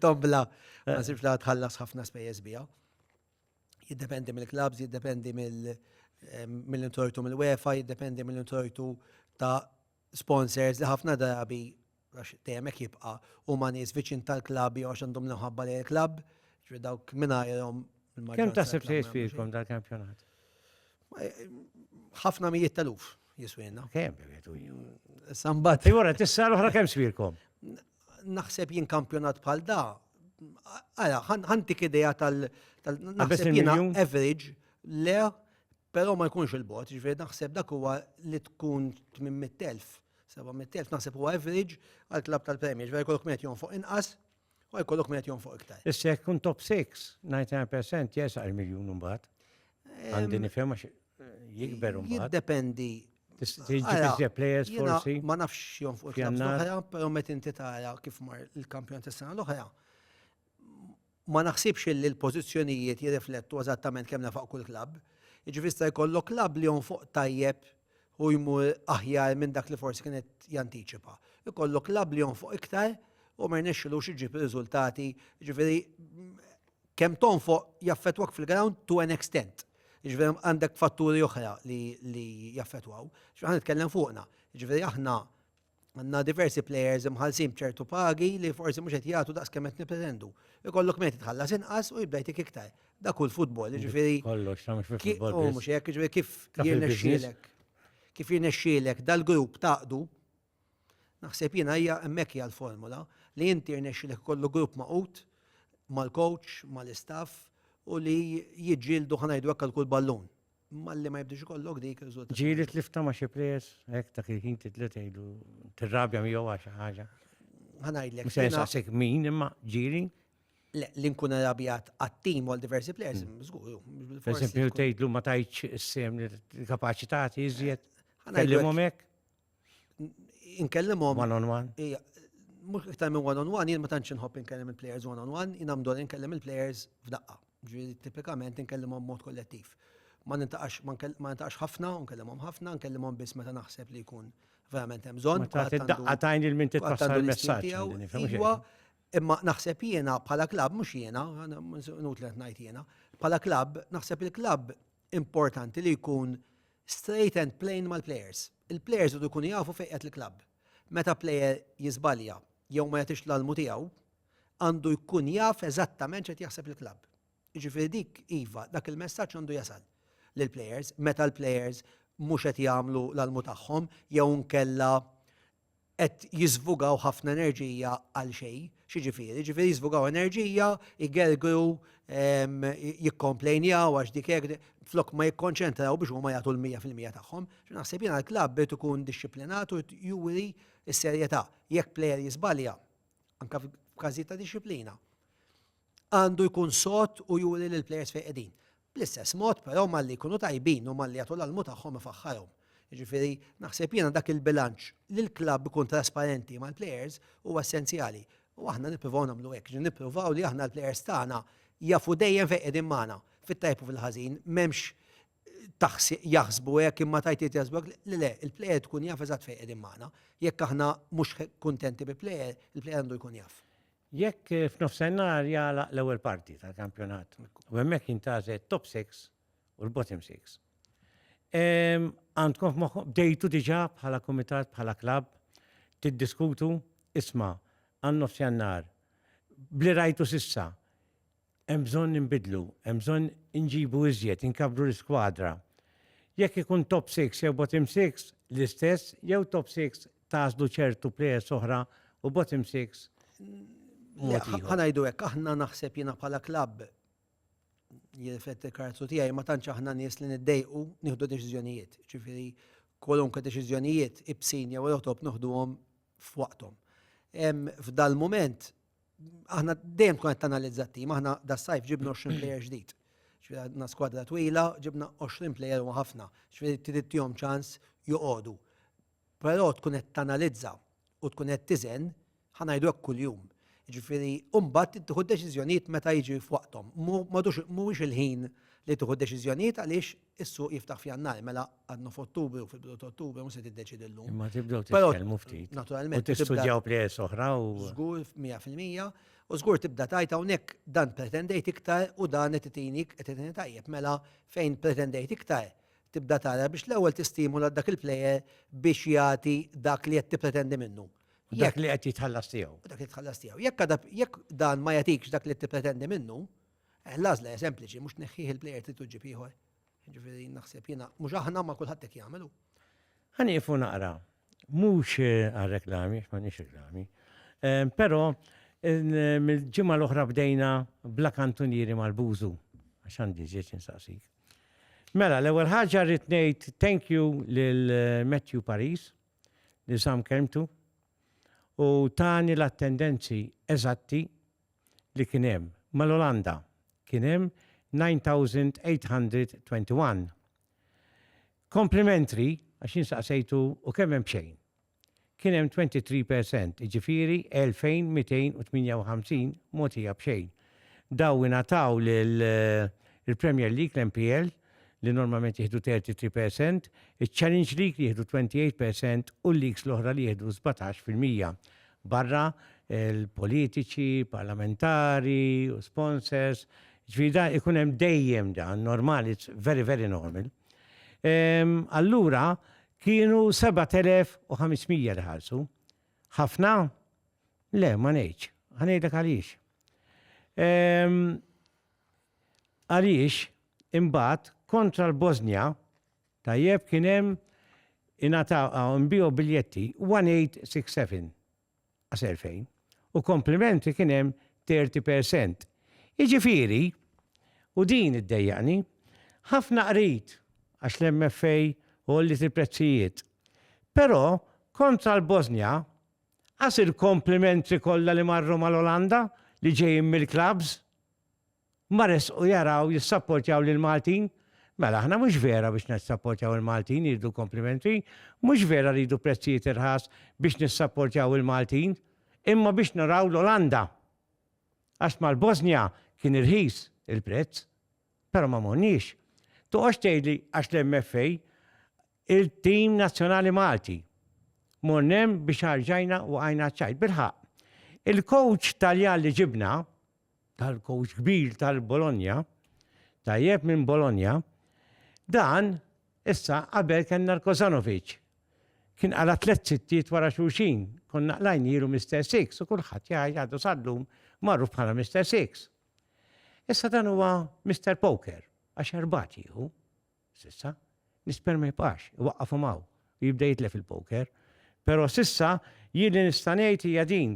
Tombla ma sibx la tħallas ħafna spejjeż biha. jiddependi mill-klabs, jiddependi mill-intortu mill-UEFA, jiddependi mill-intortu ta' sponsors li ħafna drabi għax temek jibqa u ma nis viċin tal-klab jew għax għandhom l-ħabba li l-klab, ġri dawk minna jom. Kem ta' sebti jisfikom dal-kampjonat? Eh, ħafna mijiet tal-uf jiswina. Kem, Sambat. Jgħura, tissa l-ħra kem sfirkom? Naħseb jien kampjonat bħal da, għala, ħantik ideja tal- naħseb jien average, le, pero ma jkunx il-bot, ġveri naħseb dak huwa li tkun 800.000, 700.000, naħseb huwa average għal klab tal-premju, ġveri kollok minn jon fuq inqas, u jkollok minn jon fuq iktar. Issa jkun top 6, 99% jesaq il-miljun mbagħad. Għandi nifhem Jikber un bat. Jiddependi. Tiġġib players forsi. Ma nafx jom fuq il-klabs l-oħra, pero met inti tara kif mar il-kampjon tas-sena l-oħra. Ma naħsibx li l-pozizjonijiet jirriflettu eżattament kemm nafaq kull klab. Iġvista jkollok klab li jom fuq tajjeb u jmur aħjar minn dak li forsi kienet jantiċipa. Ikollok klab li jom fuq iktar u ma jnexxilux iġib riżultati. Ġifieri Kemm tonfoq jaffettwak fil-ground to an extent. Jiġifieri għandek fatturi oħra li, li jaffettwaw. Jiġifieri ħa nitkellem fuqna. Jiġifieri aħna għandna diversi players imħallsin b'ċertu pagi li forsi mhux qed jagħtu daqs kemm qed nippretendu. Ikollok mejt tħallas inqas u jibda jtik iktar. Dak hu l-futbol, jiġifieri. Kollox, ta' mhux fil-futbol. Hu mhux hekk, jiġifieri kif jirnexxielek. Kif jirnexxielek dal-grupp taqdu, Naħseb jiena hija hemmhekk hija l-formola li inti jirnexxilek ikollu grupp magħqud mal-coach, mal-istaff u li jiġġieldu ħa ngħidu hekk għal kull ballun. Malli ma jibdiex ikollok dik ir-riżultat. Ġieli tlifta ma' xi plejers hekk dak il-ħin titli tgħidu tirrabja miegħu għal xi ħaġa. Ħa ngħidlek. Mhux se nsaqsik min imma ġieli. Le, li nkun arrabjat għat-tim għal diversi plejers, mm. żgur. Per esempio tgħidlu ma tajtx is-sem li kapaċitati iżjed. Ħa ngħidlek. inkellimhom. One on one? Ija, mux iktar minn one on one, jien ma tantx inħobb inkellim il-players one on one, jien għamdol inkellim il-players f'daqqa. Ġviri, tipikament inkellimhom mod kollettiv. Ma nintaqax, ma nintaqax ħafna, nkellimhom ħafna, nkellimhom biss meta naħseb li jkun verament hemm bżonn. Meta daqqa tajn il-min titwassal il-messaġġ. Iwa, imma naħseb jiena bħala klab, mhux jiena, nut li ngħid jiena, bħala klab, naħseb il-klab importanti li jkun straight and plain mal-plejers. Il-plejers idu jkunu jafu fejn qed il-klabb. Meta plejer jiżbalja jew ma jagħtix l-almu tiegħu, għandu jkun jaf eżattament x'qed jaħseb il-klabb. Jiġifieri dik iva, dak il-messaġġ għandu jasal lill-plejers meta l-plejers mhux qed jagħmlu l-almu tagħhom jew inkella qed jiżvugaw ħafna enerġija għal xejn. X'jiġifieri? Jiġifieri jiżvugaw enerġija, igergru, jikkomplejnjaw għax dik hekk, flok ma jikkonċentraw biex huma jagħtu l-mija fil-mija tagħhom. Naħseb jiena l-klabb irid ikun dixxiplinat u juri s-serjetà. Jekk plejer jiżbalja, anke f'każijiet ta' dixxiplina, għandu jkun sod u juri lill-plejers fejn qegħdin. Bl-istess mod, però, malli jkunu tajbin u malli jagħtu l-almu tagħhom ifaħħarhom. Jiġifieri, naħseb jiena dak il-bilanċ, li l-klabb ikun trasparenti mal-plejers huwa essenzjali. U aħna nippruvaw nagħmlu hekk. Jiġifieri nippruvaw li aħna l-plejers tagħna jafu dejjem fejn qegħdin magħna, fit-tajjeb u fil-ħażin. M'hemmx taħsib jaħsbu hekk imma tajt irid jaħsbu hekk. Le le, il-plejer tkun jaf eżatt fejn qegħdin magħna. Jekk aħna mhux kuntenti bi plejer, il-plejer għandu jkun jaf. Jekk f'nofsennhar jagħlaq l-ewwel parti tal-kampjonat u hemmhekk jintgħażel top 6 u l-bottom 6. Għandkom f'moħħkom bdejtu diġà bħala kumitat bħala klabb tiddiskutu isma' għan-nofsjannar bli rajtu s'issa Hemm bżonn inbiddlu, hemm bżonn inġibu iżjed, inkabbru l-iskwadra. Jekk ikun top six jew bottom six, l-istess, jew top six tagħżlu ċertu plejers oħra u bottom six mod ieħor. Ħa ngħidu hekk, aħna naħseb jiena bħala klabb, jirrifletti l-karattru tiegħi, ma tantx aħna nies li niddejqu nieħdu deċiżjonijiet. Ġifieri kwalunkwe deċiżjonijiet ibsin jew rotop noħduhom f'waqthom. F'dal-mument Aħna dejjem tkun qed tanalizza t-tim, aħna das-sajf ġibna 20 plejer ġdid. Ġifieri għandna skwadra twila, ġibna 20 plejer u ħafna, ġifieri trid tihom ċans joqogħdu. Però tkun qed tanalizza u tkun qed tiżen ħa ngħidu hekk kuljum. Ġifieri mbagħad tieħu deċiżjonijiet meta jiġi f'waqthom. Mhuwiex il-ħin li tieħu deċiżjonijiet għaliex Is-suq jiftaħ f'Jannar, mela għadna f'Ottubru, fil-bidu ta' Ottubru, mhux se tiddeċiedi llum. Imma tibdew titkellmu ftit. Naturalment. U tistudjaw plejers oħra u. Żgur, mija fil-mija. U żgur tibda tgħid hawnhekk dan pretendejt iktar u dan qed itini qed itini tajjeb. Mela fejn pretendejt iktar, tibda tara biex l-ewwel tistimula dak il-plejer biex jagħti dak li qed tippretendi minnu. Dak li qed jitħallas tiegħu. Dak li qed jitħallas tiegħu. Jekk dan ma jagħtikx dak li qed tippretendi minnu, Eh, l-għażla hija sempliċi, mhux tneħħih il-plejer trid ġib ieħor. Ġifieri naħseb jiena mhux aħna ma kulħadd hekk jagħmel hu. Ħanieqfu naqra, mhux eh, għal reklami, ma nix reklami, eh, però mill-ġimgħa l-oħra bdejna bla kantunieri mal-bużu, għax għandi ġieċ insaqsik. Mela, l-ewwel ħaġa rrid ngħid thank you lil eh, Matthew Paris li sam kelmtu u tani l-attendenzi eżatti li kien hemm mal-Olanda kien hemm 9821. Complimentary, għax jien saqsejtu u kemm hemm b'xejn? kien hemm 23 percent, jiġifieri 2258 mogħtija b'xejn. Dawn ingħataw lill-Premier League, l-MPL, li normalment jieħdu 33 per cent, iċ-Challenge League li jieħdu 28 per cent u l-leagues l-oħra li jieħdu 17 fil-mija. Barra l-politiċi, parlamentari u sponsors, ġifieri da ikun hemm dejjem dan, normal, it's very very normal. Ehm, allura kienu 7500 li ħarsu. Ħafna? Le, ma ngħidx. Ħanejdlek għaliex. Ehm, għaliex Imbagħad kontra l-Bosnja, tajjeb, kien hemm ingħataw hawn nbiegħu biljetti 1867 għas 2000 u kompliment li kien hemm 30 percent. Jiġifieri, u din iddejjaqni, ħafna qrid għax l-MFA għolliet il-prezzijiet. Però kontra l-Bosnja, qas il-komplimentri kollha li marru mal-Olanda li ġejjin mill-klabbs, Ma resqu jaraw jissapportjaw lill-Maltin? Mela aħna mhux vera biex nissapportjaw il-Maltin jridu l-komplimenti, mhux vera rridu prezzijiet irħas biex nissapportjaw il-Maltin, imma biex naraw l-Olanda. Għax mal-Bosnja kien irħis il-prezz, però ma morniex. Toqgħodx tgħidli għax l-MFA il-tim nazzjonali Malti. Mornem biex ħarġajna u għajna ċajt. Bilħaq, il-coach Taljan li ġibna, tal-kowċ kbir tal-Bologna, tajjeb minn Bologna, dan issa qabel kellna l-Kozanovic. Kien għala tliet sittiet wara xulxin, konna qlajn jilu Mr. Six u kulħadd jgħid għadu sallum marru bħala Mr. Six. Issa dan huwa Mr. Poker, għax erbat jieħu. S'issa, l-isperm ma jibqax, iwaqqafhom hawn u jibda jitlef il-poker. Però s'issa jien li nista' ngħid hija din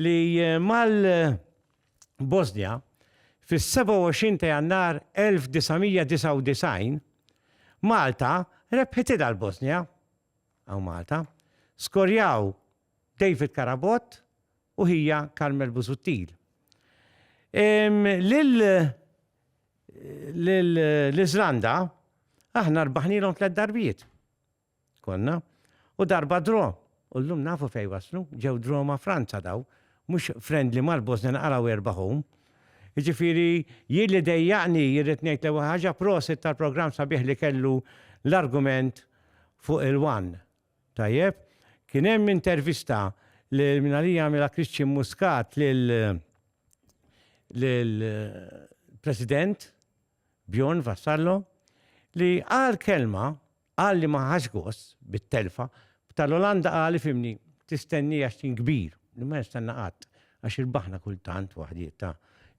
li mal-Bosnja fis-27 ta' Jannar 1999 Malta rebħet idha l-Bosnja hawn Malta. Skorjaw David Carabott u ħija Carmel Busuttil. Lil L-Iżlanda aħna rbaħnilhom tliet darbiet. Konna. U darba draw. U llum nafu fejn waslu, ġew draw ma' Franza daw, mhux friendly mal-Bosnia naqraw erbaħhom. Jiġifieri jien li dejjaqni jirrid ngħid l-ewwel ħaġa prosit tal-programm sabiħ li kellu l-argument fuq il-one. Tajjeb, kien hemm intervista li minn għalija għamilha Christian Muscat lil lil President Bjorn Vassallo li qal kelma qal li ma ħax gost bit-telfa tal-Olanda qal ifhimni tistenni għax tim kbir li ma jistenna qatt għax irbaħna kultant waħdiet ta'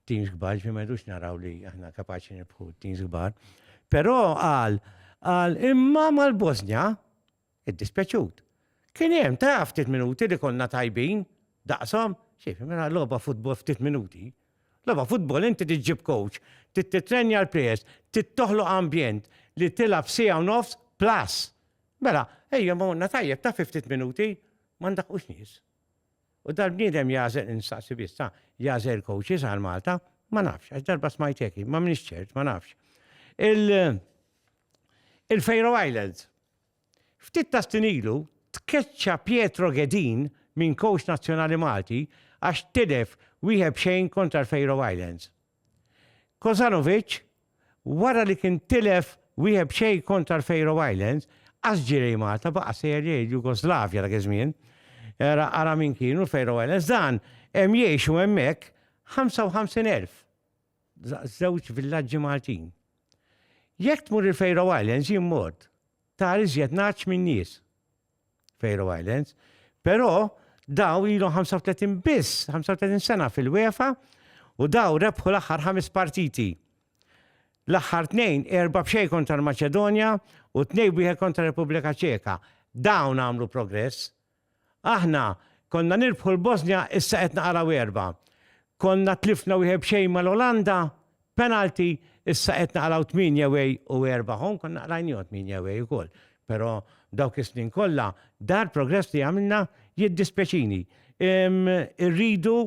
teams kbar ġifieri ma jridux naraw li aħna kapaċi nirbħu teams kbar. Però qal qal imma mal-Bosnja iddispjaċut. Kien hemm, taf, ftit minuti li konna tajbin, daqshom, xejf, mela logħba futbol ftit minuti. Logħba futbol inti tiġġib coach, tittrenja l-players, tittoħloq ambjent li tilgħab sija u nofs plus. Mela, ejja ma għonna tajjeb ta' ftit minuti, ma ndaqqux nies. U dal-bniedem jażel instaqsi biss, jażel coaches għal Malta, ma nafx, għax darba smajteki, ma minix ċert, ma nafx. Il- il-Faroe Islands. Ftit ta' snin ilu tkeċċa Pietro Ghedin minn kowċ nazzjonali Malti għax tilef wieħed b'xejn kontra l-Faroe Islands. Kozanovic, wara li kien tilef wieħed b'xejn kontra l-Faroe Islands, qas ġirej Malta baqa' sejjer lejn il-Jugoslavja dak iż-żmien. Era ara min kienu l-Faroe Islands dan hemm jgħixu hemmhekk 55,000. żewġ villaġġi Maltin. Jekk tmur il-Faroe Islands jien mort, tar iżjed naċ minn nies. Faroe Islands, però daw ilhom 35 biss, 35 sena fil-UEFA u daw rebħu l-aħħar ħames partiti. L-aħħar tnejn erba' b'xej kontra l-Maċedonja u tnej wieħed kontra Repubblika Ċeka. Dawn għamlu progress. Aħna konna nirbħu l-Bosnja issa qed naqraw erbgħa. Konna tlifna wieħed b'xejn mal-Olanda, penalty, issa qed naqraw tmienja away u erbgħa home, konna qrajniehom tmienja away ukoll. Però dawk is-snin kollha dar progress li għamilna jiddispjaċini. Irridu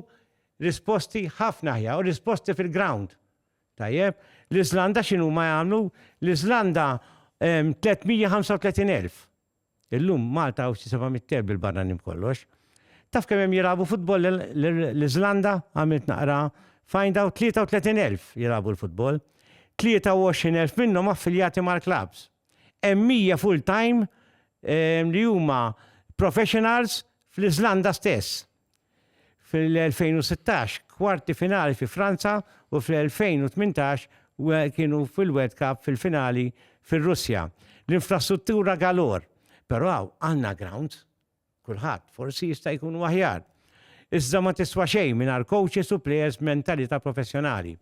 risposti ħafna aħjar u risposti fil-ground. Tajjeb? L-Iżlanda x'inhuma jagħmlu? L-Iżlanda 335,000. Illum Malta hawn xi seba' mitt kelb bil-barranin b'kollox. Taf kemm hemm jilagħbu futbol l-Iżlanda? Għamilt naqra find out 33 elf jilagħbu l-futbol. 23 elf minnhom affiljati mal-klabbs. Hemm 100 full time li huma professionals fl-Iżlanda stess. Fil-2016 kwarti finali fi Franza u fl-2018 kienu fil-World Cup fil-finali fir-Russja. L-infrastruttura galore, però għandna grounds, kulħadd, forsi jista' jkunu aħjar. Iżda ma tiswa xejn mingħajr coaches u players b'mentalità professjonali.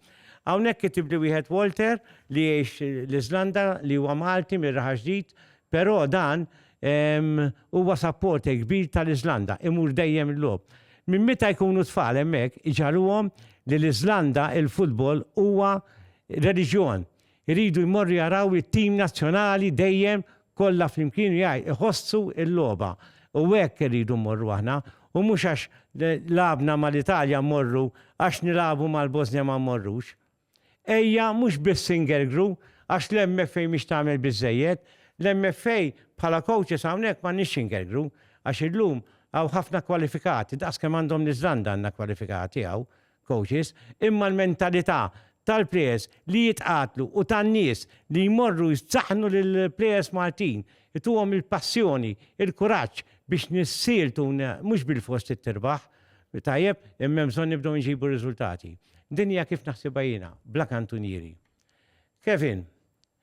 Hawnhekk kitibli wieħed Walter li jgħix l-Iżlanda li huwa Malti mir-Raħa Ġdid Però dan huwa supporter kbir tal-Iżlanda, imur dejjem il-logħob. Minn meta jkunu tfal hemmhekk iġagħluhom li l-Iżlanda il-futbol huwa reliġjon. Iridu jmorru jaraw it-tim nazzjonali dejjem kollha flimkien jgħid iħossu l-logħba. U hekk irridu mmorru aħna u mhux għax lagħabna mal-Italja mmorru, għax nilagħbu mal-Bosnja ma mmorrux. Ejja mhux biss ingergru, għax l-MFA mhix tagħmel biżżejjed. L-MFA bħala coaches hawnhekk m'għandniex ingergru, għax illum hawn ħafna kwalifikati, daqs kemm għandhom l-Iżlanda għandna kwalifikati hawn coaches, imma l-mentalità tal-players li jitqatlu u tan-nies li jmorru jsaħħnu lill-players Maltin, ituhom il-passjoni, il-kuraġġ biex nissieltu, mhux bilfors trid tirbaħ, Tajjeb, imma hemm bżonn nibdew inġibu riżultati. Din hija kif naħsibha jiena, bla kantunieri. Kevin,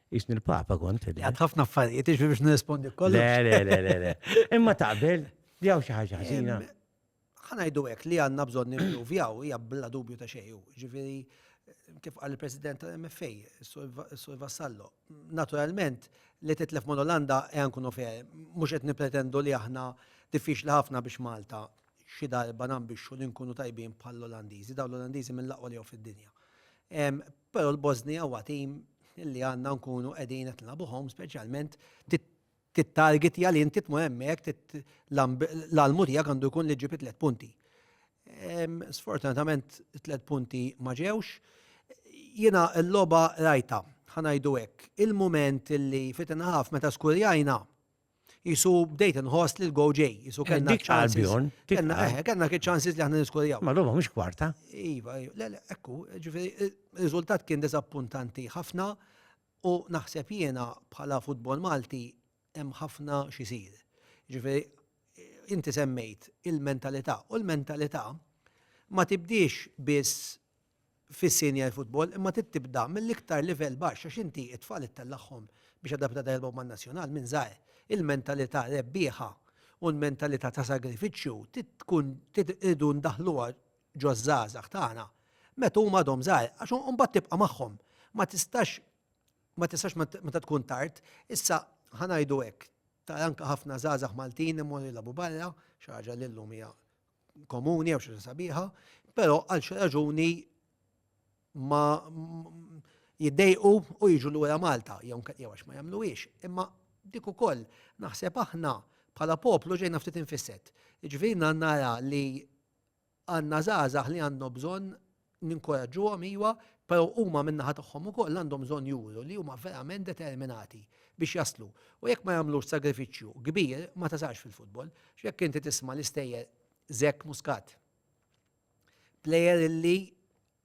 Qisni l-Papa kont. Għad ħafna affarijiet, iġbi biex nirrispondi kollu. Le, le, le, le. Imma taqbel, li għaw xi ħaġa ħażina. Ħanajdu hekk li għandna bżonn nimpruvjaw hija bla dubju ta' xejju. Ġifieri kif qal il-President tal-MFA, Sur Vassallo, naturalment li titlef ma' Olanda e ankun ofer, mhux qed nipretendu li aħna diffiċli ħafna biex Malta xi darba nambixxu li nkunu tajbin bħall-Olandiżi, dawn l-Olandiżi mill-aqwa li jew fid-dinja. Però l-Bosnija huwa tim li għandna nkunu qegħdin qed nilagħbuhom speċjalment tit-target li inti tmur hemmhekk l-almu tiegħek għandu jkun li ġġib tliet punti. Sfortunatament tliet punti ma ġewx. Jiena l-logħba rajta, ħa ngħidu hekk, il-mument li fit-inħaf meta skurjajna Jisu bdejt nħoss li l-go ġej, jisu eh, kellna ċansis. Kellna eh, kellna ċansis li aħna niskorjaw. Ma l-lum mhux kwarta. Iva, iva, le, le, ekku, ġifieri ir-riżultat kien diżappuntanti ħafna u naħseb jiena bħala futbol Malti hemm ħafna xisir. Ġifieri inti semmejt il-mentalità u l-mentalità ma tibdiex biss fis-senior football imma trid tibda mill-iktar livell baxx għax inti t-tfal ittellagħhom biex għadha b'għada jilgħbu man-nazzjonal minn żgħir. Il-mentalità rebbieħa u l-mentalità ta' sagrifiċċju trid tkun trid irridu ndaħħluha ġoż-żgħażagħ tagħna meta huma għadhom żgħar għax imbagħad tibqa' magħhom. Ma tistax ma tistax meta tkun tard. Issa ħa ngħidu hekk, tara anke ħafna żgħażagħ Maltin imorru jilagħbu barra, xi ħaġa li llum hija komuni jew xi ħaġa sabiħa, però għal xi raġuni ma jiddejqu u jiġu lura Malta jew jew għax ma jagħmluhiex. Imma dik ukoll naħseb aħna bħala poplu ġejna ftit infisset. Jiġifieri nara li għandna żgħażagħ li għandhom bżonn ninkoraġġuhom iva, però huma min-naħa tagħhom ukoll għandhom bżonn juru li huma verament determinati biex jaslu. U jekk ma jagħmlux sagrifiċċju kbir ma tasalx fil-futbol. X'jekk inti tisma' l-istejjer Zek Muscat, plejer li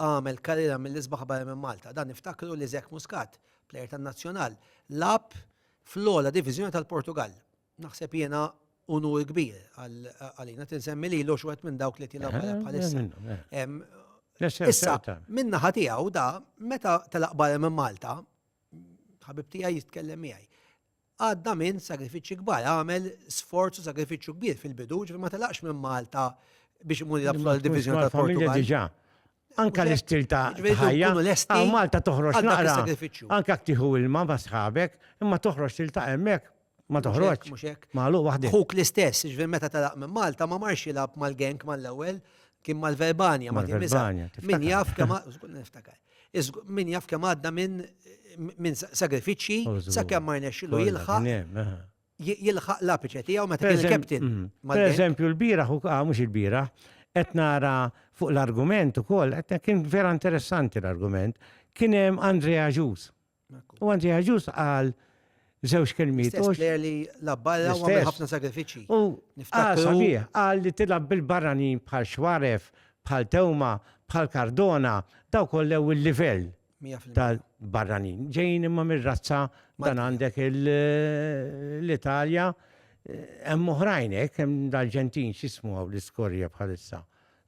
għamel karriera mill-isbaħ barra minn Malta. Dan niftakru li Zek Muscat, plejer tan-Nazzjonal, lagħab fl-ogħla diviżjoni tal-Portugall. Naħseb jiena unur kbir għalina tinsemmi li l-ox wet minn dawk li tilab għala bħalissa. Issa, minna ħatijaw da, meta tal-aqbar minn Malta, ħabib tija jitkellem miegħi. Għadda minn sagrifiċi kbar, għamel sforzu sagrifiċu kbir fil-bidu, ġifir ma telaqx minn Malta biex imur jilab fl-Divizjoni tal-Portugal. Anka l-istil ta' ħajja. Għaw Malta toħroġ naqra. Anka ktiħu il-ma ma sħabek, imma toħroġ tilta' emmek. Ma toħroġ. Malu waħdi. Huk l-istess, ġvir meta talaq minn Malta ma marx jilab mal-genk mal-ewel, kien mal-verbanja, ma kien mizan. Min jaf kemm niftakar. Min jaf kemm għadda minn sagrifiċċji, sa kemm ma rnexxilu jilħaq. jilħaq l-apiċe tiegħu meta kien il-captain. Mm-hmm. Per eżempju, l-biraħ, ah, mhux il-biraħ, qed nara fuq l-argument ukoll, qed kien vera interessanti l-argument, kien hemm Andrea Ġus. U Andrea Ġus qal żewġ kelmiet. li l-abballa u għamil ħafna sagrifiċi. U sabiħ, qal li tilab bil-barranin bħal xwaref, bħal tewma, bħal kardona, daw kollew il-livell tal-barranin. Ġejjin imma mir-razza dan għandek l-Italja, hemm oħrajn hekk, hemm dal-Ġentin x'ismu hawn l-iskorja bħalissa.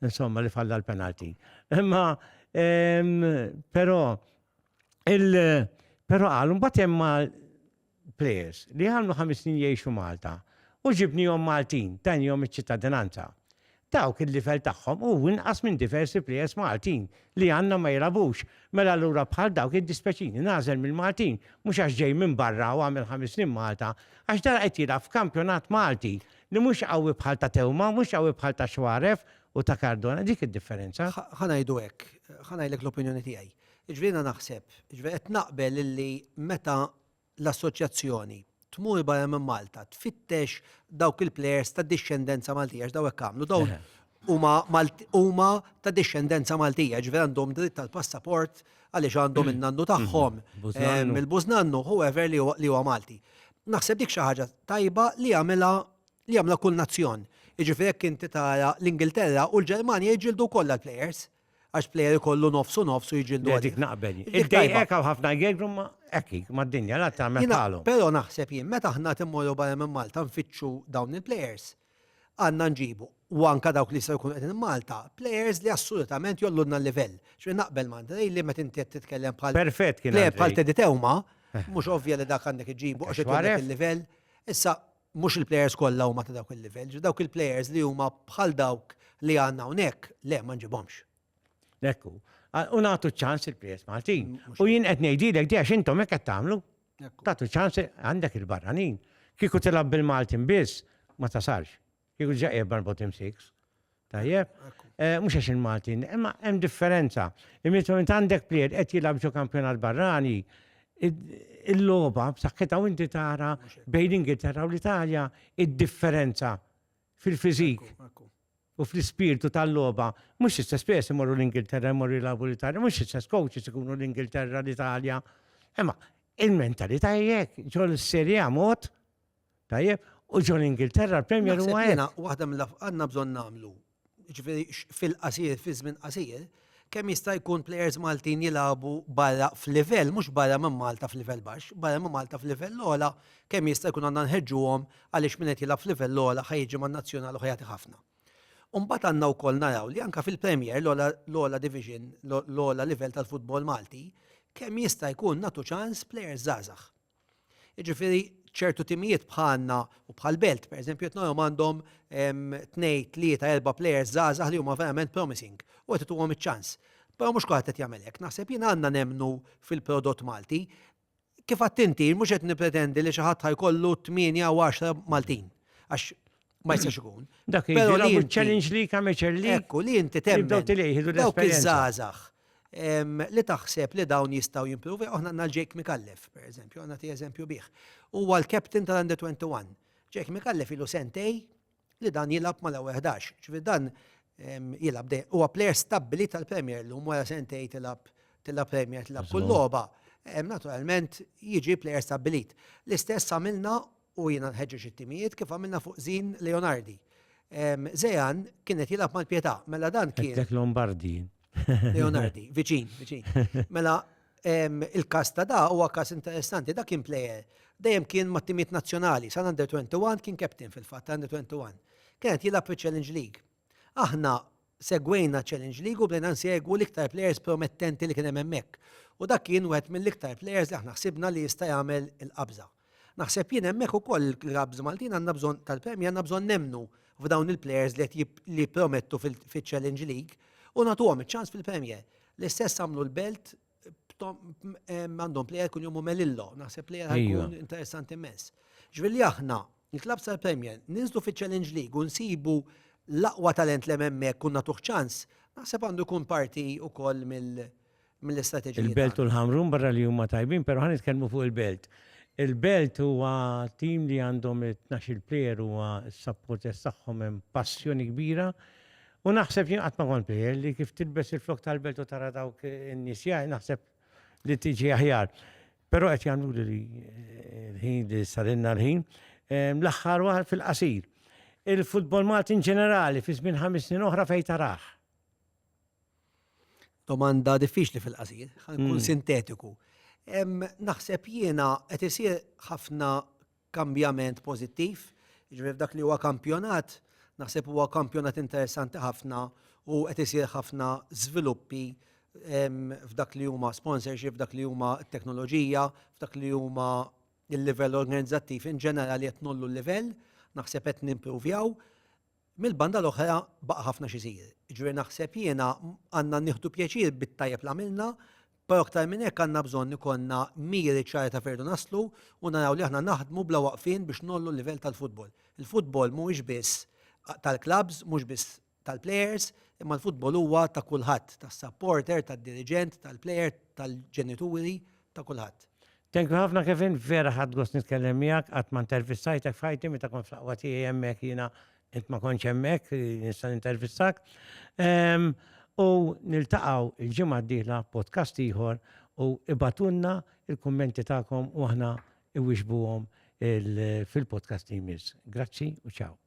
Insomma li falla l-penalti. Imma però il però qal mbagħad hemm plejers, li għamlu ħames snin jgħixu Malta u ġibniehom Maltin, tanihom iċ-ċittadinanza. Dawk il-livell tagħhom hu inqas minn diversi plejers Maltin li għandna ma jilgħabux, mela allura bħal dawk jiddispjaċini nagħżel mill-Maltin, mhux għax ġej minn barra u għamel ħames snin Malta, għax dan qed jilgħab f'kampjonat Malti li mhux qawwi bħal ta' Theuma, mhux qawwi bħal ta' Xuaref u ta' Cardona, dik id-differenza. Ħa ngħidu hekk, ħa ngħidlek l-opinjoni tiegħi. Jiġifieri jiena naħseb, jiġifieri qed naqbel illi meta l-Assoċjazzjoni tmur barra minn Malta tfittex dawk il-plejers ta' dixxendenza Maltija għax dawk għamlu dawn huma ta' dixxendenza Maltija, ġifieri għandhom dritt tal-passaport għaliex għandhom in-nannu tagħhom mill-bużnannu, whoever li huwa Malti. Naħseb dik xi ħaġa tajba li jagħmilha li jagħmilha kull nazzjon. Jiġifieri jekk inti tara l-Ingilterra u l-Ġermanja jiġġieldu wkoll għall-plejers. Għax plejer ikollu nofs u nofs u jiġildu Le, għadi. dik naqbel. Dik tajba. Iddejqek hawn ħafna jgegru ma hekk hi, mad-dinja, la tagħmel Jiena- bħalhom. Però naħseb jien, meta aħna timmorru barra minn Malta nfittxu dawn il-plejers, għandna nġibu, u anke dawk li jistgħu jkunu qegħdin Malta, plejers li assolutament jgħollulna l-livell. Ġifieri naqbel ma' Andrej li meta inti qed titkellem bħal Perfett kien plejer bħal Andrej. Teddy Teuma, mhux ovvja li dak għandek iġġibu għax Għax irid jagħmlek waref. il-livell. Issa, Mhux il-plejers kollha huma ta' dawk il-livell, ġifieri dawk il-plejers li huma bħal dawk li għandna hawnhekk, le ma nġibhomx. Hekk hu. U nagħtu ċ-ċans il-plejers Maltin. U jien qed ngħidilek di għax intom hekk qed tagħmlu. Tagħtu ċans għandek il-barranin. Kieku tilgħab bil-Maltin biss ma tasalx. Kieku ġa qiegħed mal-bottom six. Tajjeb? Eh, mhux għax il-Maltin, imma hemm differenza. Imietu int għandek plied qed jilgħab ġo kampjonat barrani, il-logħba b'saħħitha u inti tara bejn l-Ingilterra u l-Italja id-differenza fil-fiżik u fl-ispirtu tal-logħba. Mhux istess pes imorru l-Ingilterra imorru jilgħabu l-Italja, mhux istess coaches ikunu l-Ingilterra l-Italja. Imma il-mentalità jekk ġol serja mod Tajjeb, u ġol Ingilterra l-Premier huwa hekk. Jiena waħda mill għandna bżonn nagħmlu. Ġifieri fil-qasir, fi żmien qasir, kemm jista' jkun plejers Maltin jilagħbu barra f'livell, mhux barra minn Malta f'livell baxx, barra minn Malta f'livell ogħla, kemm jista' jkun għandna nħeġġuhom għaliex min qed jilgħab f'livell ogħla ħa jiġi man-nazzjonal u ħa jagħti ħafna. U mbagħad għandna wkoll naraw li anke fil-Premier, l-ogħla division, l-ogħla livell tal-futbol Malti, kemm jista' jkun nagħtu ċans plejers żgħażagħ. Jiġifieri ċertu timijiet bħalna u bħall-Belt, pereżempju, qed narahom għandhom tnejn, tlieta, erba' plejers żgħażagħ li huma verament promising u qed ituhom iċ-ċans. Però mhux kulħadd qed jagħmel hekk. Naħseb jien għandna nemmnu fil-prodott Malti. Kif għidt inti, mhux qed nippretendi li xi ħadd ħa jkollu tmienja jew għaxra Maltin għax ma jistax ikun. Dak Pero li challenge li kameċer li. Ekku li inti temmen. Daw tilejħidu Dawk iż-żazax li taħseb li dawn jistaw jimprovi, oħna għanna Jake Jake Mikallef, per eżempju, għanna ti eżempju biħ. U għal captain tal-under 21. Jake Mikallef ilu sentej li dan jilab ma l-11. ċvi dan jilab de, u għapler stabbli tal-Premier l um wara sentej tilab tilab Premier, tilab kull loba. Naturalment, jiġi player stabbilit. L-istess għamilna u jiena nħeġġeġ it-timijiet kif għamilna fuq Zin Leonardi. Zean kien qed jilgħab mal-Pietà, mela dan kien. Għedlek Lombardi. Leonardi, viċin, viċin. Mela il-każ ta' da huwa każ interessanti, da kien plejer dejjem kien mat-timijiet nazzjonali, sal-Under 21 kien captain fil-fatt, Under 21. Kien qed jilgħab fiċ-Challenge League Aħna segwejna Challenge League u bdejna nsegwu l-iktar plejers promettenti li kien hemm hemmhekk u dak kien wieħed mill-iktar plejers li aħna ħsibna li jista' jagħmel il-qabża. Naħseb jien hemmhekk ukoll il-clubs Maltin għandna bżonn tal-Premier għandna bżonn nemmnu f'dawn il-plejers li qed li jippromettu fiċ-Challenge League u nagħtuhom iċ-ċans fil-Premier. L-istess għamlu l-Belt għandhom plejer kun jomu Melillo, naħseb plejer għajkun interessanti mess. Ġvilli aħna, il-klab tal-Premier, ninżlu fi Challenge League u nsibu l-aqwa talent li memmek kun natuħ ċans, naħseb għandu kun parti u koll mill-istrateġija. Il-belt u l-ħamrun barra li huma tajbin, pero ħan nitkellmu fuq il-belt. Il-belt huwa tim li għandhom 12 plejer huwa s-sapporters tagħhom hemm passjoni kbira U naħseb jien qatt ma kont bejjel li kif tilbes il-flok tal-belt u tara dawk in-nies jgħid naħseb li tiġi aħjar. Però qed jagħmlu li l-ħin li sarilna l-ħin ehm, l-aħħar waħar fil-qasir. Il-futbol Malti in ġenerali fi żmien ħames snin oħra fejn taraħ. Domanda diffiċli fil-qasir, ħankun hmm. sintetiku. Ehm, naħseb jiena qed isir ħafna kambjament pożittiv, jiġifieri f'dak li huwa kampjonat, naħseb huwa kampjonat interessanti ħafna u qed isir ħafna żviluppi f'dak li huma sponsorship, f'dak li huma t-teknoloġija, f'dak li huma l-livell organizzattiv in ġenerali qed nollu l-livell, naħseb qed nimpruvjaw. Mill-banda l-oħra baqa' ħafna x'isir. Jiġifieri naħseb jiena għandna nieħdu pjaċir bit-tajjeb li għamilna, però aktar minn hekk għandna bżonn ikollna miri ċari ta' fejn rridu naslu u naraw li aħna naħdmu bla waqfien biex ngħollu l-livell tal-futbol. Il-futbol mhuwiex biss tal-klabbs, mhux biss tal-plejers, imma l-futbol huwa ta' kulħadd, tas-sapporter, tad-diriġent, tal-plejer, tal-ġenituri, ta' kulħadd. Thank you ħafna Kevin, vera ħadd gost nitkellem miegħek, qatt ma intervistajtek f'ħajti meta kont fl-aqwa tiegħi hemmhekk jiena int ma kontx hemmhekk li nista' nintervistak. Ehm, u niltaqgħu il-ġimgħa d-dieħla podcast ieħor u ibatunna il-kummenti tagħkom u aħna iwixbuhom fil-podcast li jmiss. Grazzi u ċaw.